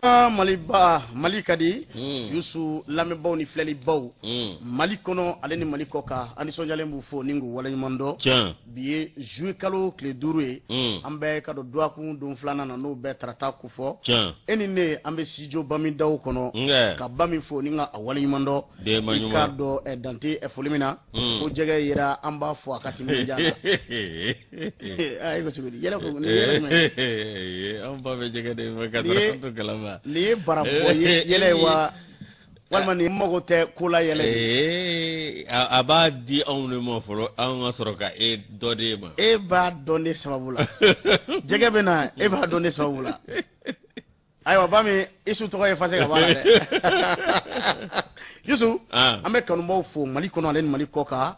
Aa, maliba mali ka di Mm. yusu lamɛnbaaw ni filɛlibaw Mm. mali kɔnɔ ale ni mali kɔ kan an nisɔndiyalen b'u fo ni k'u waleɲuman dɔn Tiɲɛ. bi ye juillet kalo tile duuru ye Mm. an bɛ i ka dɔn duwakun don filanan na n'o bɛ tarata kofɔ Tiɲɛ. e ni ne an bɛ studio bamidaw kɔnɔ Nkɛ. ka bami fo ni ka a waleɲuman dɔn Denba i ɲuman. k'a dɔn eh, dan tɛ eh, foli min na Mm. ko jɛgɛ yera an b'a fo a ka timinandiya na An ba bɛ jɛgɛ kalama nin ye bara yɛlɛ wa walima ni mago tɛ ko la yɛlɛ a b'a di anw de ma fɔlɔ an ka sɔrɔ ka e dɔ de ma e b'a dun ne sababu la jɛgɛ bɛ na e b'a dun sababu la ayiwa Bami isu tɔgɔ ye fase ka bɔ a la dɛ Youssou an bɛ kanubaaw fo Mali kɔnɔ ale ni Mali kɔkan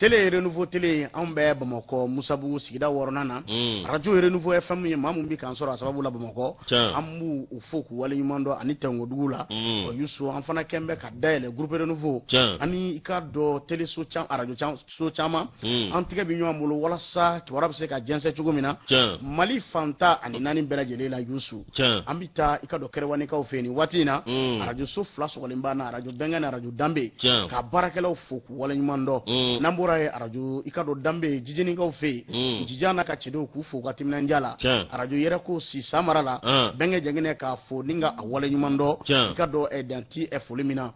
télé renouveau télé anw bɛ Bamakɔ Misabugu sigida wɔɔrɔnan na hmm. radio renouveau FM ye maa min bɛ k'an sɔrɔ a sababu la Bamakɔ an b'u fo k'u waleɲuman dɔn ani Tɛnkodugu la hmm. Youssou an fana kɛn bɛ ka dayɛlɛ groupe renouveau ani i k'a dɔn téléso radio so caman hmm. an tɛgɛ bɛ ɲɔgɔn bolo walasa kibaruya bɛ se ka jɛnsɛn cogo min na mali fan tan ani naani bɛɛ lajɛlen la yusu an bɛ taa i ka dɔn kɛrɛwanikaw fɛ yen nin waati in na hmm. arajo so fila sɔgɔlen b'an na arajo bɛnkɛ ni arajo danbe k'a baarakɛlaw fo k'u waleɲuman dɔn hmm. n'an bɔra yen arajo i ka dɔn danbe jijenikaw fɛ yen jija n'a ka cɛdenw k'u fo ka timinandiya la arajo yɛrɛ ko sisan mara la bɛnkɛ jɛngɛnɛ k'a fo ni ka a waleɲuman dɔn i ka dɔn eh, dan tɛ eh, foli min na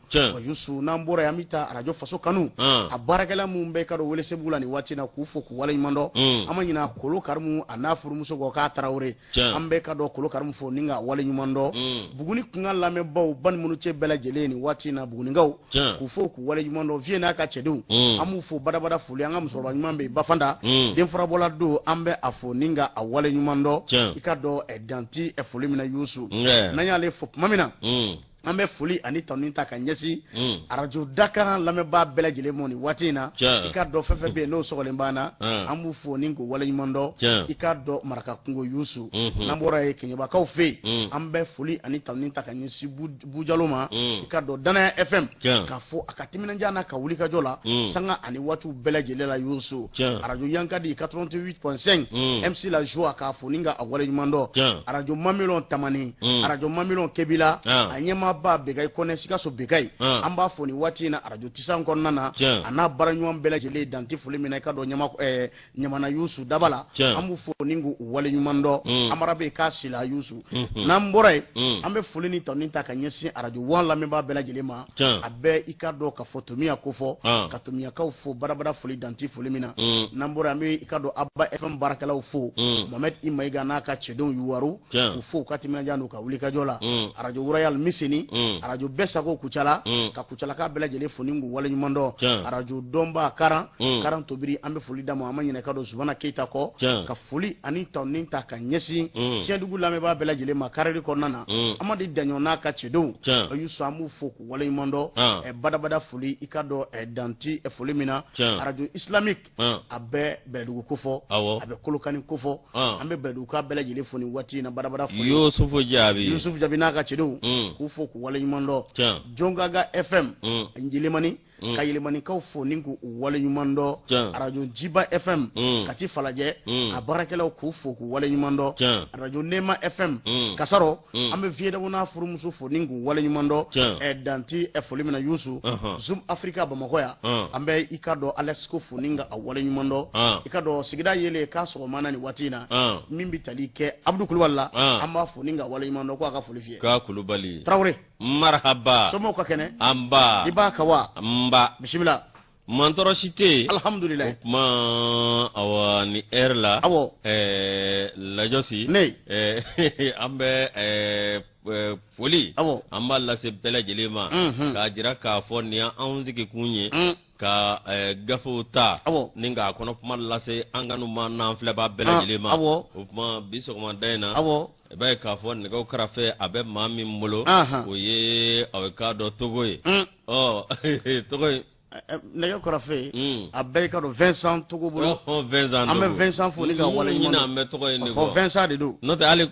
Yusu n'an bɔra yen an bɛ taa arajo faso kanu a baarakɛla minnu bɛ i ka dɔn welesebugu la nin waati na k'u fo k'u waleɲumandɔn an ma ɲina kolo karimu a n'a furumuso k'a tarawele an bɛ ka kolo karimu fo ni k'a waleɲumandɔn buguni kunkan lamɛnbaw balimaw cɛ bɛɛ lajɛlen nin waati in na bugunikaw k'u fo k'u waleɲumandɔn vieux n'a ka cɛdenw an b'u fo badabada foli an ka musokɔrɔba ɲuman bɛ bafada den furabɔla don an bɛ a fo ni ka a waleɲumandɔn i ka dɔn dan tɛ foli min na yusu n'an y'ale fo tuma min na an bɛ foli ani tanuni ta ka ɲɛsin hmm. arajo dakan lamɛnbaa bɛɛ lajɛlen ma nin waati in na i ka dɔn fɛn fɛn bɛ yen n'o sɔgɔlen b'an na hmm. an b'u fo ni k'u waleɲuman dɔn i ka dɔn maraka kungo yusu hmm. n'an bɔra yen keɲɛbakaw fɛ yen an bɛ foli ani tanuni ta ka ɲɛsin bujalo ma i ka dɔn danaya fm k'a fo a ka timinandiya n'a ka wulikajɔ la sanga ani waatiw bɛɛ lajɛlen la yusu arajo yankadi 88.5 mc la joie k'a fo ni ka a waleɲuman dɔn arajo mamilɔn tamani Mm. arajo mamilɔn kebila ah. a ɲɛmaaba bɛkayi kɔnɛ sikaso bɛkayi ah. an b'a fo nin waati in na arajo tisan kɔnɔna na a n'a baaraɲɔgɔn bɛɛ lajɛlen dan tɛ foli min na i ka dɔn ɲamana yusu daba la an b'u fo ni k'u wale ɲuman dɔn mm. amara bɛ k'a sila yusu mm-hmm. n'an bɔra yen mm. an bɛ foli ni tanuni ta ka ɲɛsin arajo wan lamɛnbaa bɛɛ lajɛlen ma a bɛ i ka dɔn ka fɔ tomiya kofɔ ah. ka tomiyakaw fo badabada foli dan tɛ foli min na n'an bɔra an bɛ i ka dɔn aba fm baarakɛlaw fo mohamɛdi i mayiga n'a ka cɛdenw yuwaru k'u fo u ka timinandiya n'u ka wulikajɔ la mm. arajo royal miseni mm. arajo bɛɛ sago kucala mm. ka kucalaka bɛɛ lajɛlen fo ni k'u waleɲumandɔn arajo dɔnba karan karan tobiri an bɛ foli d'a ma an ma ɲinɛ k'a dɔn zumana keyita kɔ ka foli ani tanuni ta ka ɲɛsin tiɲɛdugu lamɛnbaa bɛɛ lajɛlen ma karili kɔnɔna na amadi daɲɔn n'a ka cɛdenw yusu an b'u fo k'u waleɲumandɔn badabada foli i k'a dɔn dan tɛ foli min na arajo islamique a bɛ bɛlɛdugu ko fɔ a bɛ kolokani ko fɔ an bɛ bɛlɛduguka bɛɛ lajɛlen fo nin waati in na badabada foli Yusufu Jaabi Yusufu Jaabi n'a ka cɛdenw k'u fo k'u waleɲumandɔn Jɔngaga FM Yelemani ka Yelemanikaw fo ni k'u waleɲumandɔn arajo Jiba FM Kati falajɛ a baarakɛlaw k'u fo k'u waleɲumandɔn arajo Neema FM Kasaro Mm. an bɛ vieux dawo n'a furumuso fo ni k'u waleɲumandɔn Tiɲɛ. eh, dan tɛ eh, foli min na yusu Ɔhɔn. zoom africa bamakɔ yan Ɔn. an bɛ i k'a dɔn alasko fo ni k'a waleɲumandɔn Ɔn. i k'a dɔn sigida yeelen k'a sɔgɔma na nin waati in na Ɔn. min bɛ tali kɛ abudu kulubali la Ɔn. an b'a fo ni k'a waleɲumandɔn ko a ka foli f'i ye k'a kulubali tarawele marahaba somɔgɔw ka kɛnɛ nba i b'a ka wa nba bisimila mantɔɔrɔ si tɛ yen alihamudulila o kuma awa ni ɛri la awɔ ɛɛ lajɔsi ne ɛɛ an bɛ ɛɛ Eh, foli an b'a lase bɛɛ lajɛlen ma mhm. k'a jira k'a fɔ nin y'anw sigikun ye mm. ka eh, gafew ta ni k'a kɔnɔ kuma lase an kanubaa n'an filɛbaa bɛɛ lajɛlen ma o kuma bi sɔgɔmada in na i b'a ye k'a fɔ nɛgɛw karafe a bɛ maa min bolo o ye aw k'a dɔn togo ye togo nɛgɛ karafe hmm. a bɛ i k'a dɔn Vincent togo bolo an bɛ Vincent fo ni k'a waleɲumandɔn an bɛ tɔgɔ ye Vincent de don n'o tɛ hali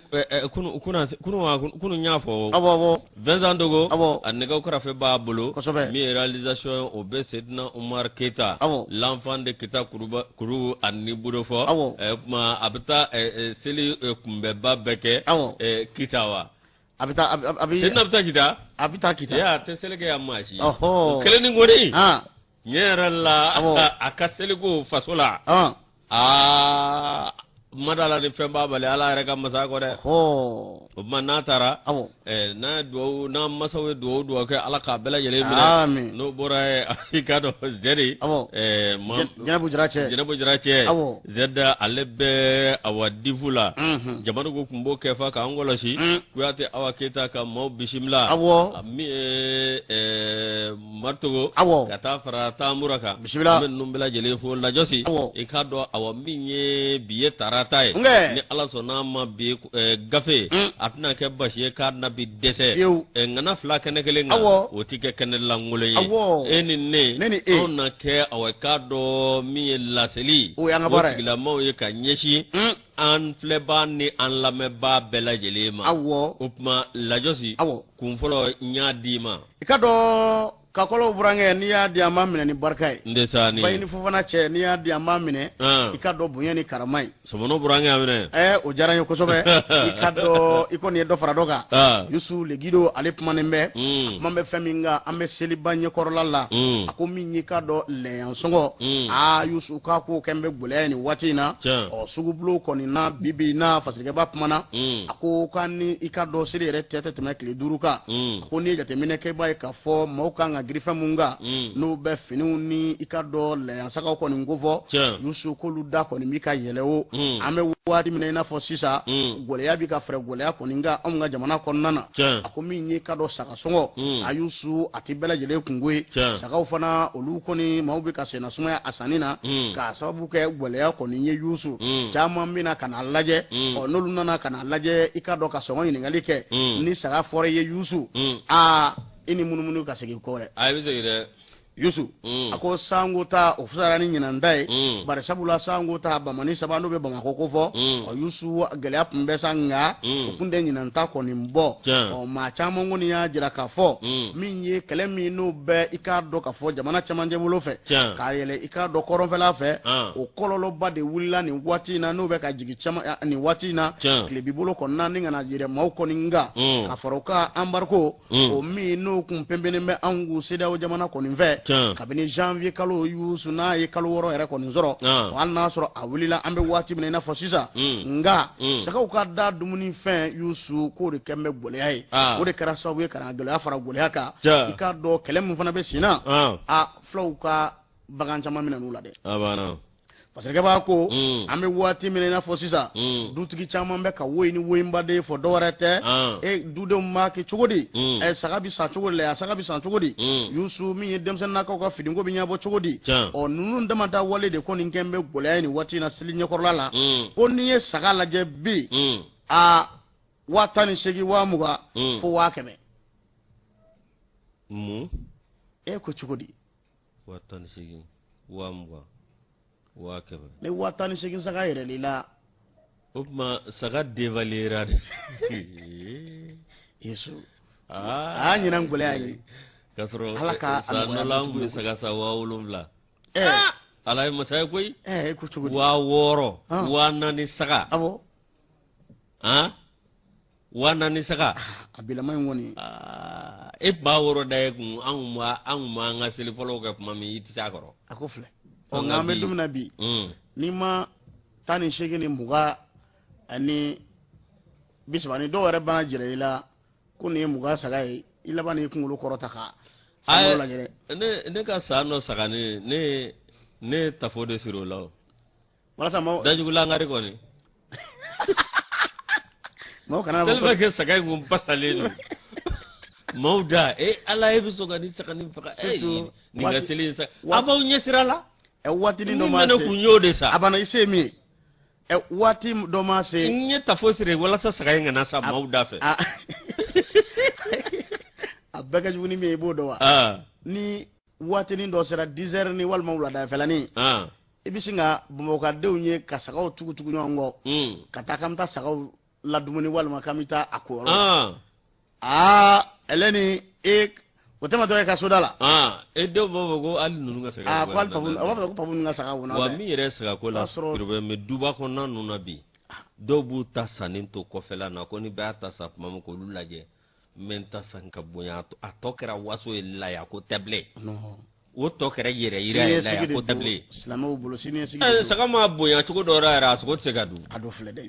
kunun y'a fɔ Vincent Togo, awɔ, a nɛgɛw karafe b'a bolo, kosɛbɛ, min ye réalisation ye o bɛ Seydina Umaru Keyita, awɔ, l'enfant de Kita kuruba kuru ani Budofo, awɔ, ɛ o kuma a bɛ taa ɛ ɛ seli kunbɛnba bɛɛ kɛ, awɔ, ɛ Kita wa? A bɛ taa a bɛ a bɛ Seydina bɛ taa Kita, a bɛ taa Kita, ee a tɛ seli kɛ yan maa si, ɔhɔ, o kelen ni kɔni, an tiɲɛ yɛrɛ la a ka seliko faso la aa madala ni fɛn b'a bali ala yɛrɛ ka masako dɛ o tuma n'a taara n'a dugawu n'a masaw ye dugawu dugawu kɛ ala k'a bɛɛ lajɛlen minɛ n'o bɔra yen i k'a dɔn zɛri jɛnɛbu jara cɛ jɛnɛbu jara cɛ zɛda ale bɛ awa difu la jamana ko tun b'o kɛ fa k'an kɔlɔsi kuyate awa keyita ka maaw bisimila min ye Mari Togo ka taa fara Tamura kan n bɛ ninnu bɛɛ lajɛlen fo lajɔsi i k'a dɔn awa min ye bi ye tarata ye ni ala sɔnna a ma bi gafe a tɛna kɛ basi ye ka na bi dɛsɛ ŋana fila kɛnɛ kelen kan o tɛ kɛ kɛnɛ lankolon ye e ni ne o na kɛ awa i k'a dɔn min ye laseli o gilan maaw ye ka ɲɛsin an filɛbaa ni an lamɛnbaa bɛɛ lajɛlen ma o kuma lajɔsi kun fɔlɔ n y'a d'i ma i ka dɔn kakɔlɔw burankɛ n'i y'a di an b'a minɛ ni barika ye ndesa ni bayi ni fofana cɛ n'i y'a di an b'a minɛ i ka dɔn bonya ni karama ye sɔmɔnɔ burankɛ a minɛ ɛɛ o diyara n ye kosɛbɛ i ka dɔn i kɔni ye dɔ fara dɔ kan yusu Le Guido ale kumanen bɛ a kuma bɛ fɛn min kan an bɛ seliba ɲɛkɔrɔla la a ko min y'i ka dɔn lɛyan sɔngɔ aa yusu k'a ko kɛn bɛ gɛlɛya nin waati in na ɔ sugubulon kɔni na bi bi in na Fasikɛ Ba kumana a ko k'an ni i ka dɔn seli yɛrɛ cɛ tɛ tɛmɛ tile duuru kan ko n'i ye jateminɛ kɛ i b'a ye k'a fɔ maaw kan ka girin fɛn minnu kan mm. n'o bɛ finiw ni i ka dɔ lɛyansagaw kɔni ko fɔ yusu k'olu da kɔni bi ka yɛlɛn o mm. an bɛ waati min na i n'a fɔ sisan mm. gɛlɛya bi ka fara gɛlɛya kɔni kan anw ka jamana kɔnɔna na a ko min y'i ka dɔ saga sɔngɔ a yusu a tɛ bɛɛ lajɛlen kunko ye sagaw fana olu kɔni maaw bɛ ka senna sumaya a sanni na k'a sababu kɛ gɛlɛya kɔni ye yusu caman bɛ na ka n'a lajɛ ɔ n'olu nana ka na a lajɛ i ka dɔn ka sɔngɔ ɲininkali kɛ mm. ni saga fɔra i ye yusu mm. aa i n'i munumunu ka segin kɔ dɛ a i bɛ segin dɛ yusu mm. a ko sango ta o fisayara ni ɲinan ta ye mm. bari sabula sango ta bamanin saba n'o bɛ bamakɔ kofɔ mm. ɔ yusu gɛlɛya tun bɛ sa nka mm. o tun tɛ ɲinan ta kɔni bɔ ɔ maa caman kɔni y'a jira k'a fɔ mm. min ye kɛlɛ min n'o bɛ i k'a dɔn k'a fɔ jamana cɛmancɛ bolo fɛ ka yɛlɛn i k'a dɔn kɔrɔnfɛla fɛ ah. o kɔlɔlɔba de wulila nin waati in na n'o bɛ ka jigin caman eh, nin waati in na tilebin bolo kɔnɔna na ka na yɛrɛ maaw kɔni kan mm. ka fara o kan embargo mm. o min n'o kun pɛnpɛnnen bɛ anw kun CEDEAO jamana kɔni fɛ kabini janvier kalo yusu n'a ye kalo wɔɔrɔ yɛrɛ kɔni sɔrɔ hali n'a sɔrɔ a wulila an bɛ waati min na i n'a fɔ sisan mm. nka sagaw ka da dumuni fɛn yusu k'o de kɛn bɛ gɛlɛya ye o de kɛra sababu ye ka na gɛlɛya fara gɛlɛya kan i k'a dɔn kɛlɛ min fana bɛ sen na a fulaw ka bagan caman minɛna u la dɛ Fasikɛ Ba ko mm. an bɛ waati min na i n'a fɔ sisan mm. dutigi caman bɛ ka woyi ni woyi n baden fɔ dɔwɛrɛ tɛ ah. e dudenw b'a kɛ cogo di mm. ɛ saga bɛ san cogo di la saga bɛ san cogo di Yusu min ye denmisɛnninnakaw ka finiko bɛ ɲɛnabɔ cogo di ɔ ninnu dama da wale de kɔni kɛn bɛ gɛlɛya nin waati in na seli ɲɛkɔrɔla la ko n'i ye saga lajɛ bi a waa tan ni seegin waa mugan fo waa kɛmɛ e ko cogo di waa tan ni seegin waa mugan waa kɛmɛ ni waa tan ni seegin saga yɛrɛli la o tuma saga devalera de yusu aa ɲinan gɛlɛya ye k'a sɔrɔ ala ka san dɔ la an tun bɛ saga san waa wolonwula ah! ala ye masa ye koyi eh, waa wɔɔrɔ ah. waa naani saga awɔ ah? Waa naani saga a bila n kɔni ye ba wɔɔrɔ ta ye kun anw anw an ka seli fɔlɔ kɛ tuma min i tɛ se a kɔrɔ a ko filɛ ɔ nka an bɛ don min na bi ni ma tan ni segin ni mugan ani bisaba ni dɔw yɛrɛ b'a jira i la ko nin ye mugan saga ye i laban ni kunkolo kɔrɔta kan ne ka san dɔ saganin ne tafo de siri o la walasa maaw dajugulangari kɔni maaw kana fɔ tellement que saga in kun pasalen don maaw da e ala e bɛ sɔn ka nin saganin faga e Surtout nin ka waati- seli in sa waati- a b'aw ɲɛsira la ɛ waatinin min dɔ ma bɛ ne kun se y'o de san a banna i se ye min ye ɛ waati dɔ ma se n ye tafo siri walasa saga in kana sa maaw da fɛ a a bɛɛ ka jugu ni min ye i b'o dɔn wa Ah. ni waatinin dɔ sera dizɛrinin walima wuladafɛlanin i bɛ sin ka bamakɔkadenw ye ka sagaw tugutugu ɲɔgɔn kɔ hmm. ka taa k'an bɛ taa sagaw ladumuni walima k'an bɛ taa a ko yɔrɔ aa ale ni e o tɛma dɔ ye ka soda la e dɔw b'a fɔ ko hali ninnu ka saga ko hali papu a b'a fɔ ko papu ninnu ka saga wona wa min yɛrɛ sagako la porobilɛmu bɛ duba kɔnɔna ninnu na bi dɔw b'u ta sanni to kɔfɛla na ko ni bɛɛ y'a ta san tuma min k'olu lajɛ n ta san ka bonya a tɔ kɛra waso ye laya ko tɛ bilen o tɔ kɛra yɛrɛyira ye laya ko tɛ bilen silamɛw bolo sini saga ma bonya cogo dɔ yɛrɛ a sogo tɛ se ka dun a dɔ filɛ dɛ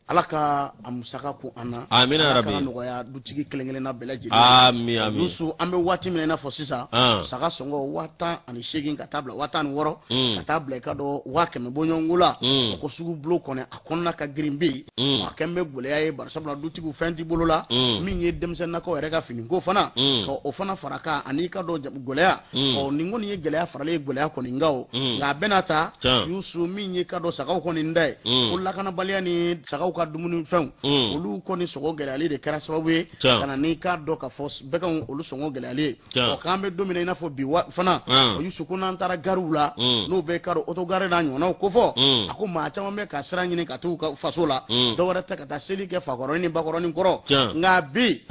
ala ka a musaka ko an na amina nɔgɔya dutigi kelen-kelenna bɛɛ lajɛlen yusu an bɛ waati min i n'a fɔ sisan saga sɔngɔ waa tan ani seegin ka taa bila waa tan ni wɔɔrɔ ka taa bila i ka dɔn waa kɛmɛ bɔɲɔgɔnko la ko sugu bulon kɔnɔ kɔnɔna ka girin bɛ yen mm. a kɛn bɛ gɛlɛya ye barisabula dutigiw fɛn t'i bolo la mm. min ye denmisɛnninnakaw yɛrɛ ka finiko fana mm. ka o fana fara kan ani ka dɔn gɛlɛya ɔ nin kɔni ye gɛlɛya faralen ye gɛlɛya kɔni nka o nka a bɛna ta yusu min ye ka dɔn sagaw kɔni da ye ko lakanabaliya ni sagaw ka dumuni fɛnw olu kɔni sɔngɔ gɛlɛyali de kɛra sababu ye ka na n'i k'a dɔn ka fɔ bɛɛ ka olu sɔngɔ gɛlɛyali ye ɔ k'an bɛ don min na i n'a fɔ bi fana o yusu ko n'an taara gariw la n'o bɛ ka dɔn oto gari n'a ɲɔgɔnnaw ko fɔ a ko maa caman bɛ ka sira ɲini ka t'u ka faso la dɔwɛrɛ tɛ ka taa seli kɛ fakɔrɔnin ni bakɔrɔnin kɔrɔ nka bi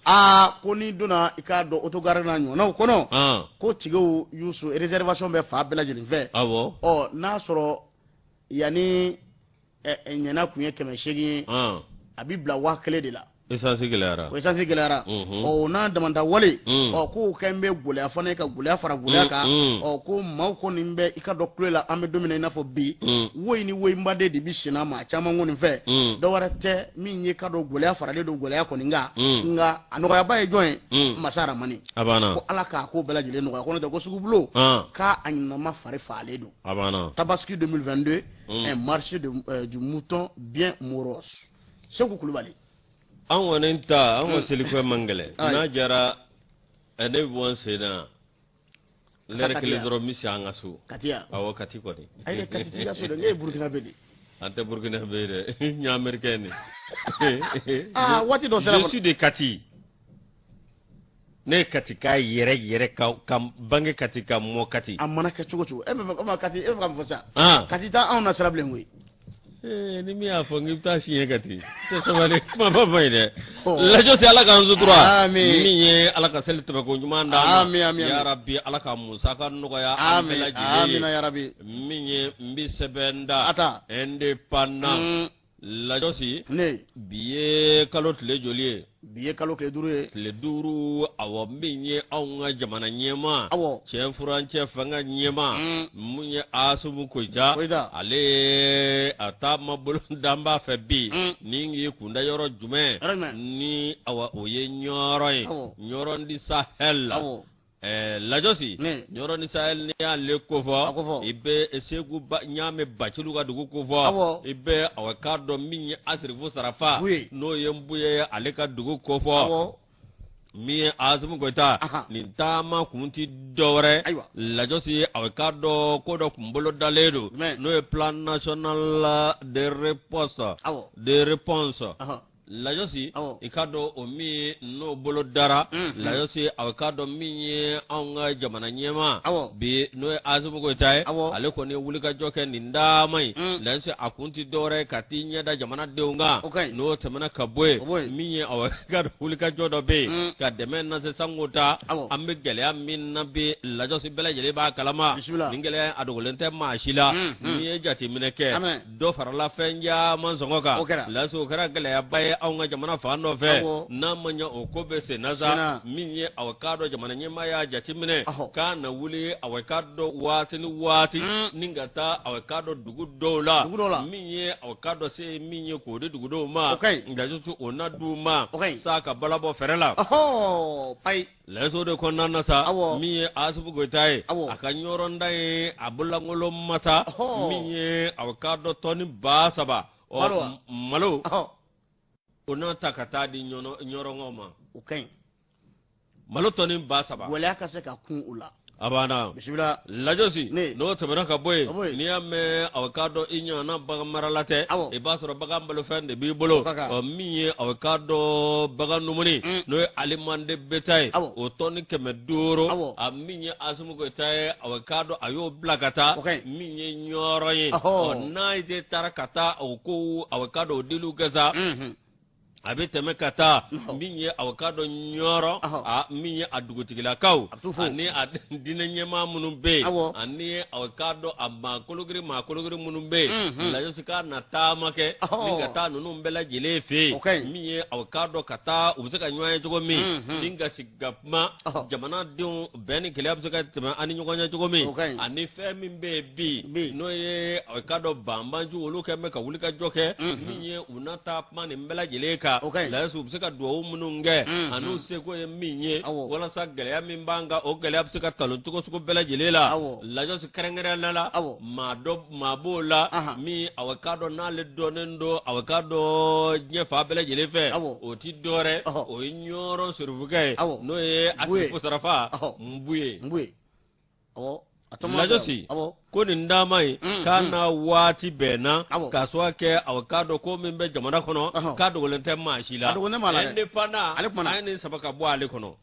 aa ko n'i donna i k'a dɔn oto gari n'a ɲɔgɔnnaw kɔnɔ ko tikɛw yusu réservation bɛ fa bɛɛ lajɛlen fɛ ɔ n'a sɔrɔ yanni ɲɛna tun ye kɛmɛ seegin ye a bɛ bila waa kelen de la esansi gɛlɛyara o esansi gɛlɛyara ɔ bon adama tarawele ɔ k'o kɛlen bɛ gɛlɛya fana ye ka gɛlɛya fara gɛlɛya kan ɔ ko maaw kɔni bɛ i k'a dɔn kulo la an bɛ don min na i n'a fɔ bi woyi ni woyinbaden de bɛ senna maa caman kɔni fɛ dɔwɛrɛ tɛ min ye k'a dɔn gɛlɛya faralen don gɛlɛya kɔni kan nka a nɔgɔyaba ye jɔn ye masa ramani a banna ko ala k'a ko bɛɛ lajɛlen nɔgɔya ko n'o tɛ ko sugubulo k'a a ɲinama fari fagalen don a banna tabaski 2022 mm. un marché de, euh, du mouton bien morose Sekou Koulibaly an kɔni ta an ka mm. selikɛ man gɛlɛn n'a jara eh, ne bɛ bɔ n sen na lɛrɛ kelen dɔrɔn n bɛ se an ka so awɔ kati kɔni ayi kati t'i ka so dɛ ne ye burukinabɛ de an tɛ burukinabɛ ye dɛ n ye amerikɛn de ah, waati dɔ sera je suis de kati ne ye katika yɛrɛ yɛrɛ ka ka bange kati ka mɔ kati a mana kɛ cogo cogo e bɛ fɛ kati e bɛ ka mun fɔ sa ah. kati t'anw nasiran bilen koyi eh, ni min y'a fɔ k'i bɛ taa siɲɛ kati tɛ sabali kuma ba ma ye dɛ oh. lajɔsi ala k'an sutura min ye ala ka seli tɛmɛ kɔ ɲuman d'an ma yarabi ala ka musaka nɔgɔya an bɛɛ lajɛlen ye min ye n bɛ sɛbɛn da indépendant. lajɔsi bi ye kalo tile joli ye bi ye kalo tile duuru ye tile duuru awɔ min ye anw ka jamana ɲɛmaa awɔ cɛn furancɛ fanga ɲɛmaa mm. min ye asimi goyita ale ye a taama bolo danba fɛ bi mm. n'i y'i kunda yɔrɔ jumɛn ni awa o ye ɲɔrɔ ye ɲɔrɔ du sahɛl la Ɛɛ lajɔsi ɲɔrɔ du sahɛl n'i y'ale ko fɔ i bɛ seku ɲamɛ bacili ka dugu ko fɔ i bɛ a k'a dɔn min ye asirifu sarafa n'o ye nbuye ye ale ka dugu ko fɔ min ye asimi goyita nin taama kun tɛ dɔwɛrɛ lajɔsi a k'a dɔn ko dɔ kun bolodalen don n'o ye plan national de réponse lajɔsi i k'a dɔn o min n'o bolodara mm, mm. lajɔsi a k'a dɔn min ye anw ka jamana ɲɛmaa bi n'o ye asimi goyita ye ale kɔni ye wulikajɔ kɛ nin dama ye mm. lajɔsi a kun tɛ dɔwɛrɛ ye ka t'i ɲɛda jamanadenw kan n'o tɛmɛna ka bɔ yen min ye aw k'a dɔn wulikajɔ dɔ bɛ yen ka dɛmɛ nase sanko ta an bɛ gɛlɛya min na bi lajɔsi bɛɛ lajɛlen b'a kalama nin gɛlɛya a dogolen tɛ maa si la n'i ye jateminɛ kɛ dɔ farala fɛn caman sɔngɔ kan lajɔsi o kɛra gɛlɛyaba ye anw ka jamana fan dɔ fɛ n'a ma ɲɛ o ko bɛ sen na sa min ye a k'a dɔn jamana ɲɛmaa y'a jateminɛ k'a na wuli a k'a dɔn waati ni waati mm. ni ka taa a k'a dɔn dugu dɔw la min ye a k'a dɔn se min ye k'o di dugudenw ma lajɔsi o na di u ma sa ka balabɔ fɛrɛ la ayi l'Essor de kɔnɔna na sa min ye asimi goyita ye a ka ɲɔrɔ taa ye a bololankolon ma taa min ye aw k'a dɔn tɔni ba saba ɔ malo o n'a ta ka taa di ɲɔrɔnkaw ma o ka ɲi malo tɔni ba saba waleya ka se ka kun u la a banna bisimila lajosi Ne. n'o tɛmɛna ka bɔ Ka bɔ yen yen. n'i y'a mɛn aw k'a dɔn i ɲɔgɔnna bagan marala tɛ Awɔ. i b'a sɔrɔ bagan balofɛn de b'i bolo Bagan. ɔ min ye aw k'a dɔn bagan dumuni Mm. n'o ye aliment de bétail ye Awɔ. o tɔni kɛmɛ duuru Awɔ. a min ye asimi goyita ye aw k'a dɔn a y'o bila ka taa O ka ɲi. min ye ɲɔrɔ ye Ɔhɔ. ɔ n'a ye taara ka taa o ko aw k'a dɔn o diliw kɛ sa Mhm. a bɛ tɛmɛ ka taa min ye aw k'a dɔn ɲɔrɔ min ye a dugutigilakaw ani a diinɛ ɲɛmaa minnu bɛ yen ani aw k'a dɔn a maa kologirin maa kologirin minnu bɛ yen lajosi ka na taama kɛ min ka taa ninnu bɛɛ lajɛlen fɛ yen min ye aw k'a dɔn ka taa u bɛ se ka ɲɔgɔn ye cogo min ni ka sigi ka kuma jamanadenw bɛn ni kelenya bɛ se ka tɛmɛ an ni ɲɔgɔn cɛ cogo min ani fɛn min bɛ yen bi n'o ye aw k'a dɔn banbaanciw olu kɛn bɛ ka wuli ka jɔ kɛ min ye u na taa kuma nin bɛɛ lajɛlen kan lajɔsi u bɛ se ka dugawu minnu kɛ ani u seko ye min ye walasa gɛlɛya min b'an kan o gɛlɛya bɛ se ka talon cogo sugu bɛɛ lajɛlen la lajɔsi kɛrɛnkɛrɛnnenya la maa b'o la min aw k'a dɔn n'ale dɔnnen don aw k'a dɔn diɲɛ fan bɛɛ lajɛlen fɛ o tɛ dɔwɛrɛ o ye ɲɔrɔ serifukɛ ye n'o ye a ko serifu nbuye nbuye lajɔsi ko nin dama ye mm, k'a mm. na waati bɛnna k'a sɔrɔ kɛ aw k'a dɔn ko min bɛ jamana kɔnɔ k'a dogolen tɛ maa si la indépendant ale tuma a ni saba ka bɔ ale kɔnɔ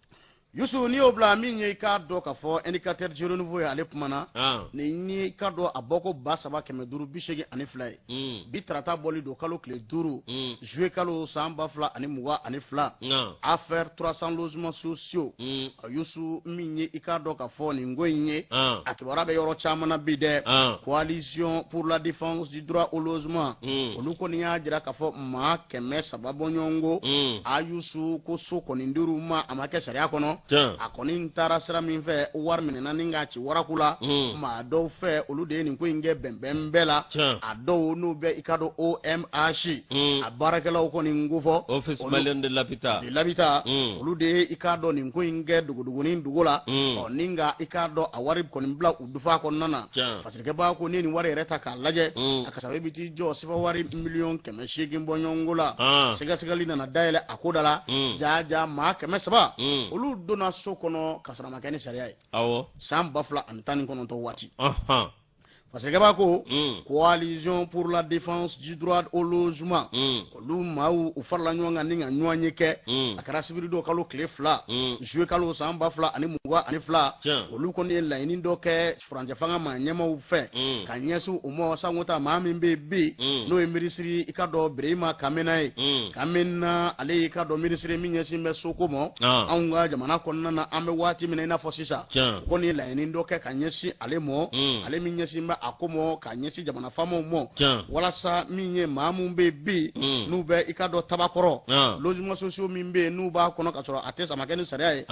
yusu n'i y'o bila min ye i k'a dɔn k'a fɔ indicateur du renouveau ye ale kuma na ah. nin ye i k'a dɔn a bɔko ba saba kɛmɛ duuru bi seegin ani fila ye mm. bi tarata bɔli don kalo tile duuru juillet kalo san ba fila ani mugan ani fila affaire trois cent logements sociaux mm. yusu min ye i k'a dɔn k'a fɔ nin ko in ye a kibaruya bɛ yɔrɔ caman na bi dɛ coalition pour la défense du droit au logement mm. olu kɔni y'a jira k'a fɔ maa kɛmɛ saba bɔɲɔgɔnko mm. a yusu ko so kɔni dir'u ma a ma kɛ sariya kɔnɔ a kɔni taara sira min fɛ wari minɛna ni k'a waraku la hmm. maa dɔw fɛ olu de ye nin ko in kɛ bɛnbɛn bɛɛ la a dɔw n'u bɛ i k'a dɔn OMH hmm. a baarakɛlaw kɔni n k'o fɔ office malien de l'habitat de l'habitat hmm. olu de ye i k'a dɔn nin ko in kɛ dogodogonin dogo la ɔ ni nka i k'a dɔn a wari kɔni bila u dufa kɔnɔna na fatirikɛbaa ko ni nin wari yɛrɛ ta k'a lajɛ a kasabi bɛ t'i jɔ sefawari miliyɔn kɛmɛ seegin bɔɲɔgɔnko la ah. sɛgɛsɛgɛli nana dayɛlɛ a ko da la jaa jaa maa kɛmɛ saba olu donna so kɔnɔ ka sɔrɔ a ma kɛ ni sariya ye san ba fila ani tan ni kɔnɔntɔn waati fasikɛba ko coalition pour la défense du droit au logement olu maaw u farala ɲɔgɔn kan ni ka ɲɔgɔnye kɛ a kɛra sibiri don kalo tile fila zuye kalo san ba fila ani mugan ani fila olu kɔni ye laɲini dɔ kɛ furancɛ fanga maa ɲɛmaaw fɛ ka ɲɛsin u ma sanko ta maa min bɛ bɛ yen n'o ye minisiri i ka dɔn berema kamena ye kamena ale y'i ka dɔn minisiri min ɲɛsin bɛ soko ma anw ka jamana kɔnɔna na an bɛ waati min i n'a fɔ sisan u kɔni ye laɲini dɔ kɛ ka ɲɛsin ale mɔ ale min ɲɛsin bɛ a ko mɔ ka ɲɛsin jamana faamaw mɔ walasa min ye maa min bɛ bi n'u bɛ i ka dɔn tabakɔrɔ logements sociaux min bɛ yen n'u b'a kɔnɔ ka sɔrɔ a tɛ a ma kɛ ni sariya ye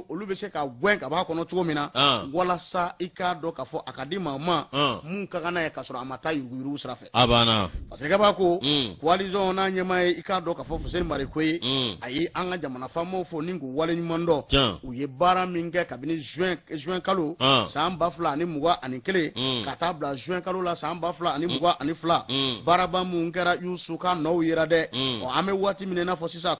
olu bɛ se ka gɛn ka b'a kɔnɔ cogo min na walasa i k'a dɔn ka fɔ a ka di maa ma mun ka kan n'a ye ka sɔrɔ a ma taa yuruguyurugu sira fɛ a banna fasikɛba ko coalition n'a ɲɛmaa ye i k'a dɔn k'a fɔ fuseni mariko ye a ye an ka jamana faamaw fo ni k'u waleɲuman dɔn u ye baara min kɛ kabini zuwɛn kalo san ba fila ani mugan ani kelen ka taa bila zuwɛn kalo la san ba fila ani mugan ani fila baaraba minnu kɛra yusu ka nɔw yera dɛ an bɛ waati min i n'a fɔ sisan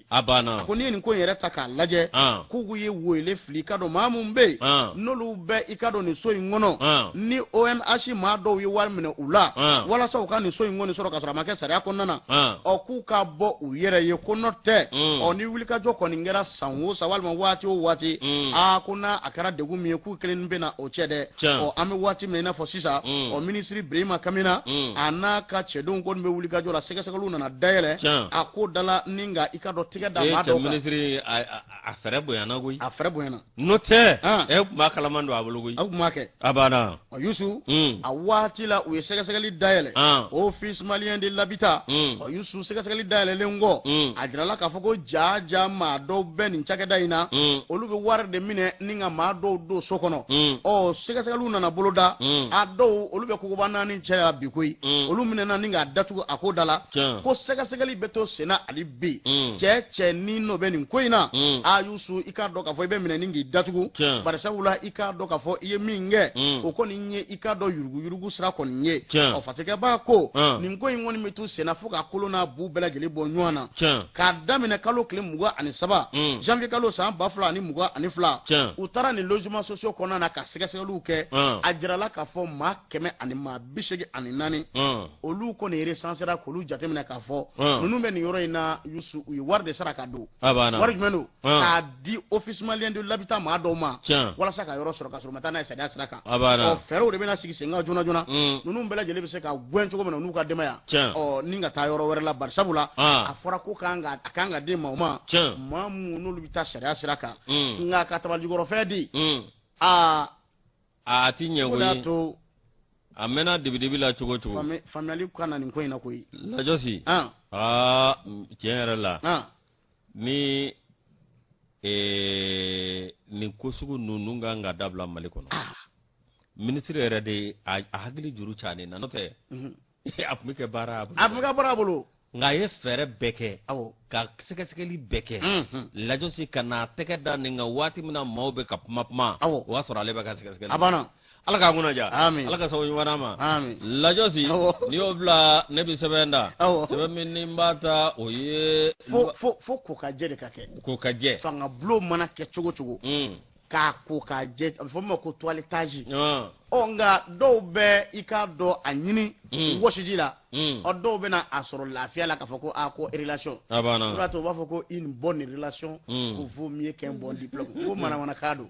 a banna ko n'i ye nin ko in yɛrɛ ta k'a lajɛ k'u k'u ye wele fili ka dɔn maa minnu bɛ yen n'olu bɛ i ka dɔn nin so in kɔnɔ ni OMH maa dɔw ye wari minɛ u la walasa u ka nin so in kɔni sɔrɔ ka sɔrɔ a ma kɛ sariya kɔnɔna na ɔ k'u ka bɔ u yɛrɛ ye ko n'o tɛ ɔ ni wulikajɔ kɔni kɛra san o san walima waati o waati aa ko n'a a kɛra degun min ye k'u kelen bɛna o cɛ dɛ ɔ an bɛ waati min i n'a fɔ sisan mm. ɔ minisiri birima kamena mm. a n'a ka cɛdenw kɔni bɛ wulikajɔ la sɛgɛsɛgɛliw nana dayɛlɛ a ko da la ni ka i ka dɔn tigɛ da maa dɔw kan minisiri a fɛɛrɛ bonyana koyi a fɛɛrɛ bonyana n'o tɛ e tun b'a kalaman don a bolo koyi aw tun b'a kɛ a banna ɔ yusu mm. a waati la u ye sɛgɛsɛgɛli dayɛlɛ office malien de l'habitat ɔ yusu sɛgɛsɛgɛli dayɛlɛlen kɔ mm. a jirala k'a fɔ ko jaa jaa maa dɔw bɛ nin cakɛda in na mm. olu bɛ wari de minɛ ni ka maa dɔw don so kɔnɔ mm. ɔ sɛgɛsɛgɛliw nana boloda a dɔw olu bɛ kogoba naani cɛ yan bi koyi olu minɛna ni k'a datugu a ko da la ko sɛgɛsɛgɛli bɛ to senna hali bi cɛ cɛ ni n'o bɛ nin ko in na a yusu i k'a dɔn k'a fɔ i bɛ minɛ ni k'i datugu bari sabula i k'a dɔn k'a fɔ i ye min kɛ o kɔni ye i k'a dɔn yuruguyurugu sira kɔni ye ɔ fasikɛba ko nin ko in kɔni bɛ to senna fo k'a kolo n'a bu bɛɛ lajɛlen bɔ ɲɔgɔn na k'a daminɛ kalo tile mugan ani saba janvier kalo san ba fila ani mugan ani fila u taara nin logements sociaux kɔnɔna na ka sɛgɛsɛgɛliw kɛ a jirala k'a fɔ maa kɛmɛ ani maa bi seegin ani naani olu kɔni resansera k'olu jateminɛ k'a fɔ ninnu bɛ nin yɔrɔ in na Yusu u ye wari de sara ka don wari jumɛn don k'a di office malien de l'habitat maa dɔw ma walasa ka yɔrɔ sɔrɔ ka sɔrɔ u ma taa n'a ye sariya sira kan o fɛɛrɛw de bɛna sigi sen kan joona joona ninnu bɛɛ lajɛlen bɛ se ka gɛn cogo min na u n'u ka denbaya ɔ ni ka taa yɔrɔ wɛrɛ la bari sabula a fɔra ko kan ka a kan ka di maaw ma maa minnu n'olu bɛ taa sariya sira kan nka ka tabalikɔrɔfɛn di aa a ti ɲɛ o ye to a mɛnna dibidibi la cogo cogo faamuyali ka na nin ko in na koyi lajɔsi aa tiɲɛ yɛrɛ la ni nin ko sugu ninnu kan ka dabila mali kɔnɔ minisiri yɛrɛ de ye a hakili juru ca nin na n'o tɛ a tun bɛ kɛ baara a bolo a tun bɛ kɛ baara a bolo nka a ye fɛɛrɛ bɛɛ kɛ ka sɛgɛsɛgɛli bɛɛ kɛ lajɔsi ka n'a tɛgɛ da nin kan waati min na maaw bɛ ka kuma kuma o y'a sɔrɔ ale bɛ ka sɛgɛsɛgɛli ala k'a kunnaja Amin. ala ka sababu ɲuman d'an ma Amin. lajɔsi Awɔ. n'i y'o bila ne bɛ sɛbɛn ta Awɔ. sɛbɛn min ni n b'a ta o ye fo fo fo ko ka jɛ de ka kɛ ko ka jɛ fanga bulon mana kɛ cogo o cogo Mm. k'a ko k'a jɛ a bɛ fɔ min ma ko toilettage Ah. ɔ nka dɔw bɛ i ka dɔn a ɲini Mm. wɔsiji la Mm. ɔ dɔw bɛna a sɔrɔ lafiya la k'a fɔ ko a ko relation a o b'a to u b'a fɔ ko une bonne relation Mm. ko vaut mieux qu'un bon diplôme ko manamanakan don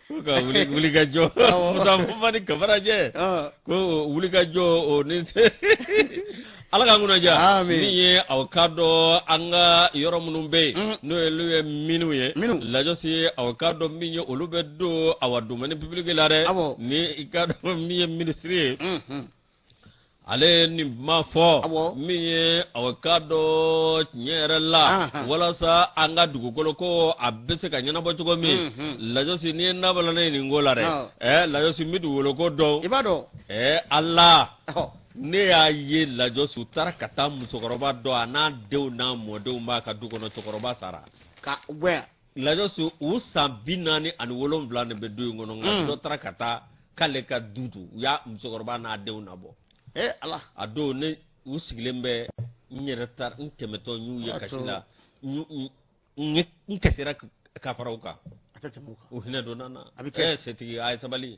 Ko ka wuli ka jɔ Awɔ. Musa Fɔnba ni Kamaracɛ Ɔn. ko wulikajɔ o ni Ala ka kunnaja Amin. min ye aw ka dɔn an ka yɔrɔ minnu bɛ yen Mhm. n'o ye olu ye minnu ye Minnu. lajɔsi aw ka dɔn min ye olu bɛ don awa domaine public la dɛ Awɔ. ni i ka dɔn min ye minisiri ye Unhun. ale nin ma fɔ min ye a ka dɔn tiɲɛ yɛrɛ la walasa an ka dugukolo ko a bɛ se ka ɲɛnabɔ cogo min lajɔsi n'i ye nabala ne nin ko la dɛ ɛ lajɔsi n bɛ dugukolo ko dɔn i b'a dɔn ɛ ala ne y'a ye lajɔsi u taara ka taa musokɔrɔba dɔ a n'a denw n'a mɔdenw b'a ka du kɔnɔ cɛkɔrɔba sara ka lajɔsi u san bi naani ani wolonwula de bɛ du in kɔnɔ nka dɔ taara ka taa k'ale ka du don u y'a musokɔrɔba n'a denw nabɔ ee ala a don ne u sigilen bɛ n yɛrɛ taara n tɛmɛtɔ n y'u ye kasi la n kasira ka fara u kan a tɛ tɛmɛ u hinɛ donna n na a bɛ kɛ setigi a ye sabali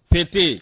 PT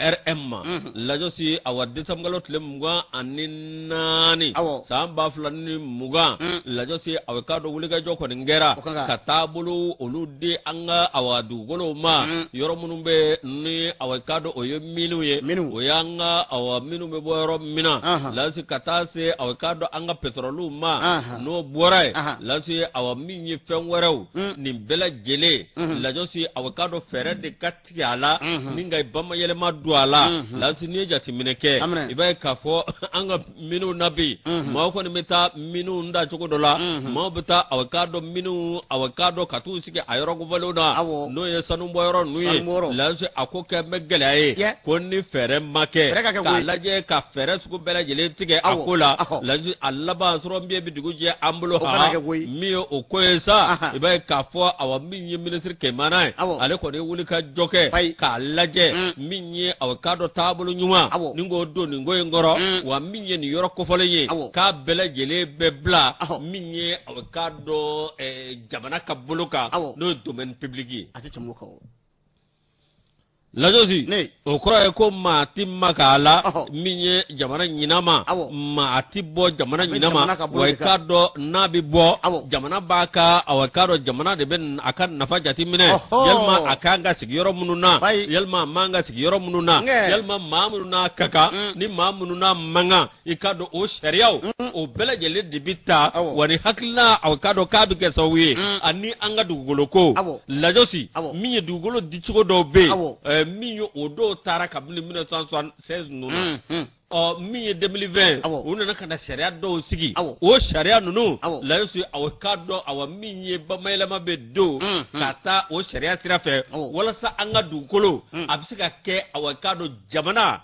RM lajɔsi awa desanburukalo tile mugan ani naani awa san ba fila ni mugan lajɔsi aw ka dɔn wulikajɔ kɔni kɛra ka taabolo olu di an ka awa dugukolo ma yɔrɔ minnu bɛ ni a ka dɔn o ye minnu ye minnu o y'an ka a minnu bɛ bɔ yɔrɔ min na lajɔsi ka taa se a ka dɔn an ka pétrole ma n'o bɔra yen lajɔsi a min ye fɛn wɛrɛw nin bɛɛ lajɛlen lajɔsi a ka dɔn fɛɛrɛ de ka tigɛ a la ni ka bamayɛlɛma don a la lajɔsi n'i ye jateminɛ kɛ i b'a ye k'a fɔ an ka minnu na bi maaw kɔni bɛ taa minnu da cogo dɔ la maaw bɛ taa aw k'a dɔn minnu aw k'a dɔn ka t'u sigi a yɔrɔ kofɔlenw na n'o ye sanubɔ yɔrɔ ninnu ye lajɔsi a ko kɛ bɛ gɛlɛya ye ko ni fɛɛrɛ ma kɛ k'a lajɛ ka fɛɛrɛ sugu bɛɛ lajɛlen tigɛ a ko la lajɔsi a laban sɔrɔ min bɛ dugu jɛ an bolo min ye o ko ye sa i b'a ye k'a fɔ a ye minisiri kamena ye ale kɔni ye wuli ka jɔ kɛ k'a lajɛ mm. min ye aw k'a dɔn taabolo ɲuman ni k'o don nin ko in kɔrɔ mm. wa min ye nin yɔrɔ kofɔlen ye k'a bɛɛ lajɛlen bɛ bila min ye aw k'a dɔn jamana ka bolo kan n'o ye domaine public ye a tɛ tɛmɛ o kan o. Lajɔsi o kɔrɔ ye ko maa tɛ maga a la min ye jamana ɲinan ma maa tɛ bɔ jamana ɲinan ma wa i k'a dɔn n'a bɛ bɔ jamana b'a ka aw k'a dɔn jamana de bɛ a ka nafa jate minɛ yalima a ka kan ka sigi yɔrɔ minnu na yalima a man ka sigi yɔrɔ minnu na yalima maa minnu n'a ka kan ni maa minnu n'a man kan i k'a dɔn o sariyaw o bɛɛ lajɛlen de bɛ ta wa ni hakilila aw k'a dɔn k'a bɛ kɛ sababu ye ani an ka dugukolo ko lajɔsi min ye dugukolo dicogo dɔw bɛ yen min ye o dɔw taara kabini 1976 ninnu na min ye 2020 u nana ka na sariya dɔw sigi o sariya ninnu lajɔsi aw k'a dɔn aw min ye bamayɛlɛma bɛ don ka taa o sariya sira fɛ walasa an ka dugukolo a bɛ se ka kɛ aw k'a dɔn jamana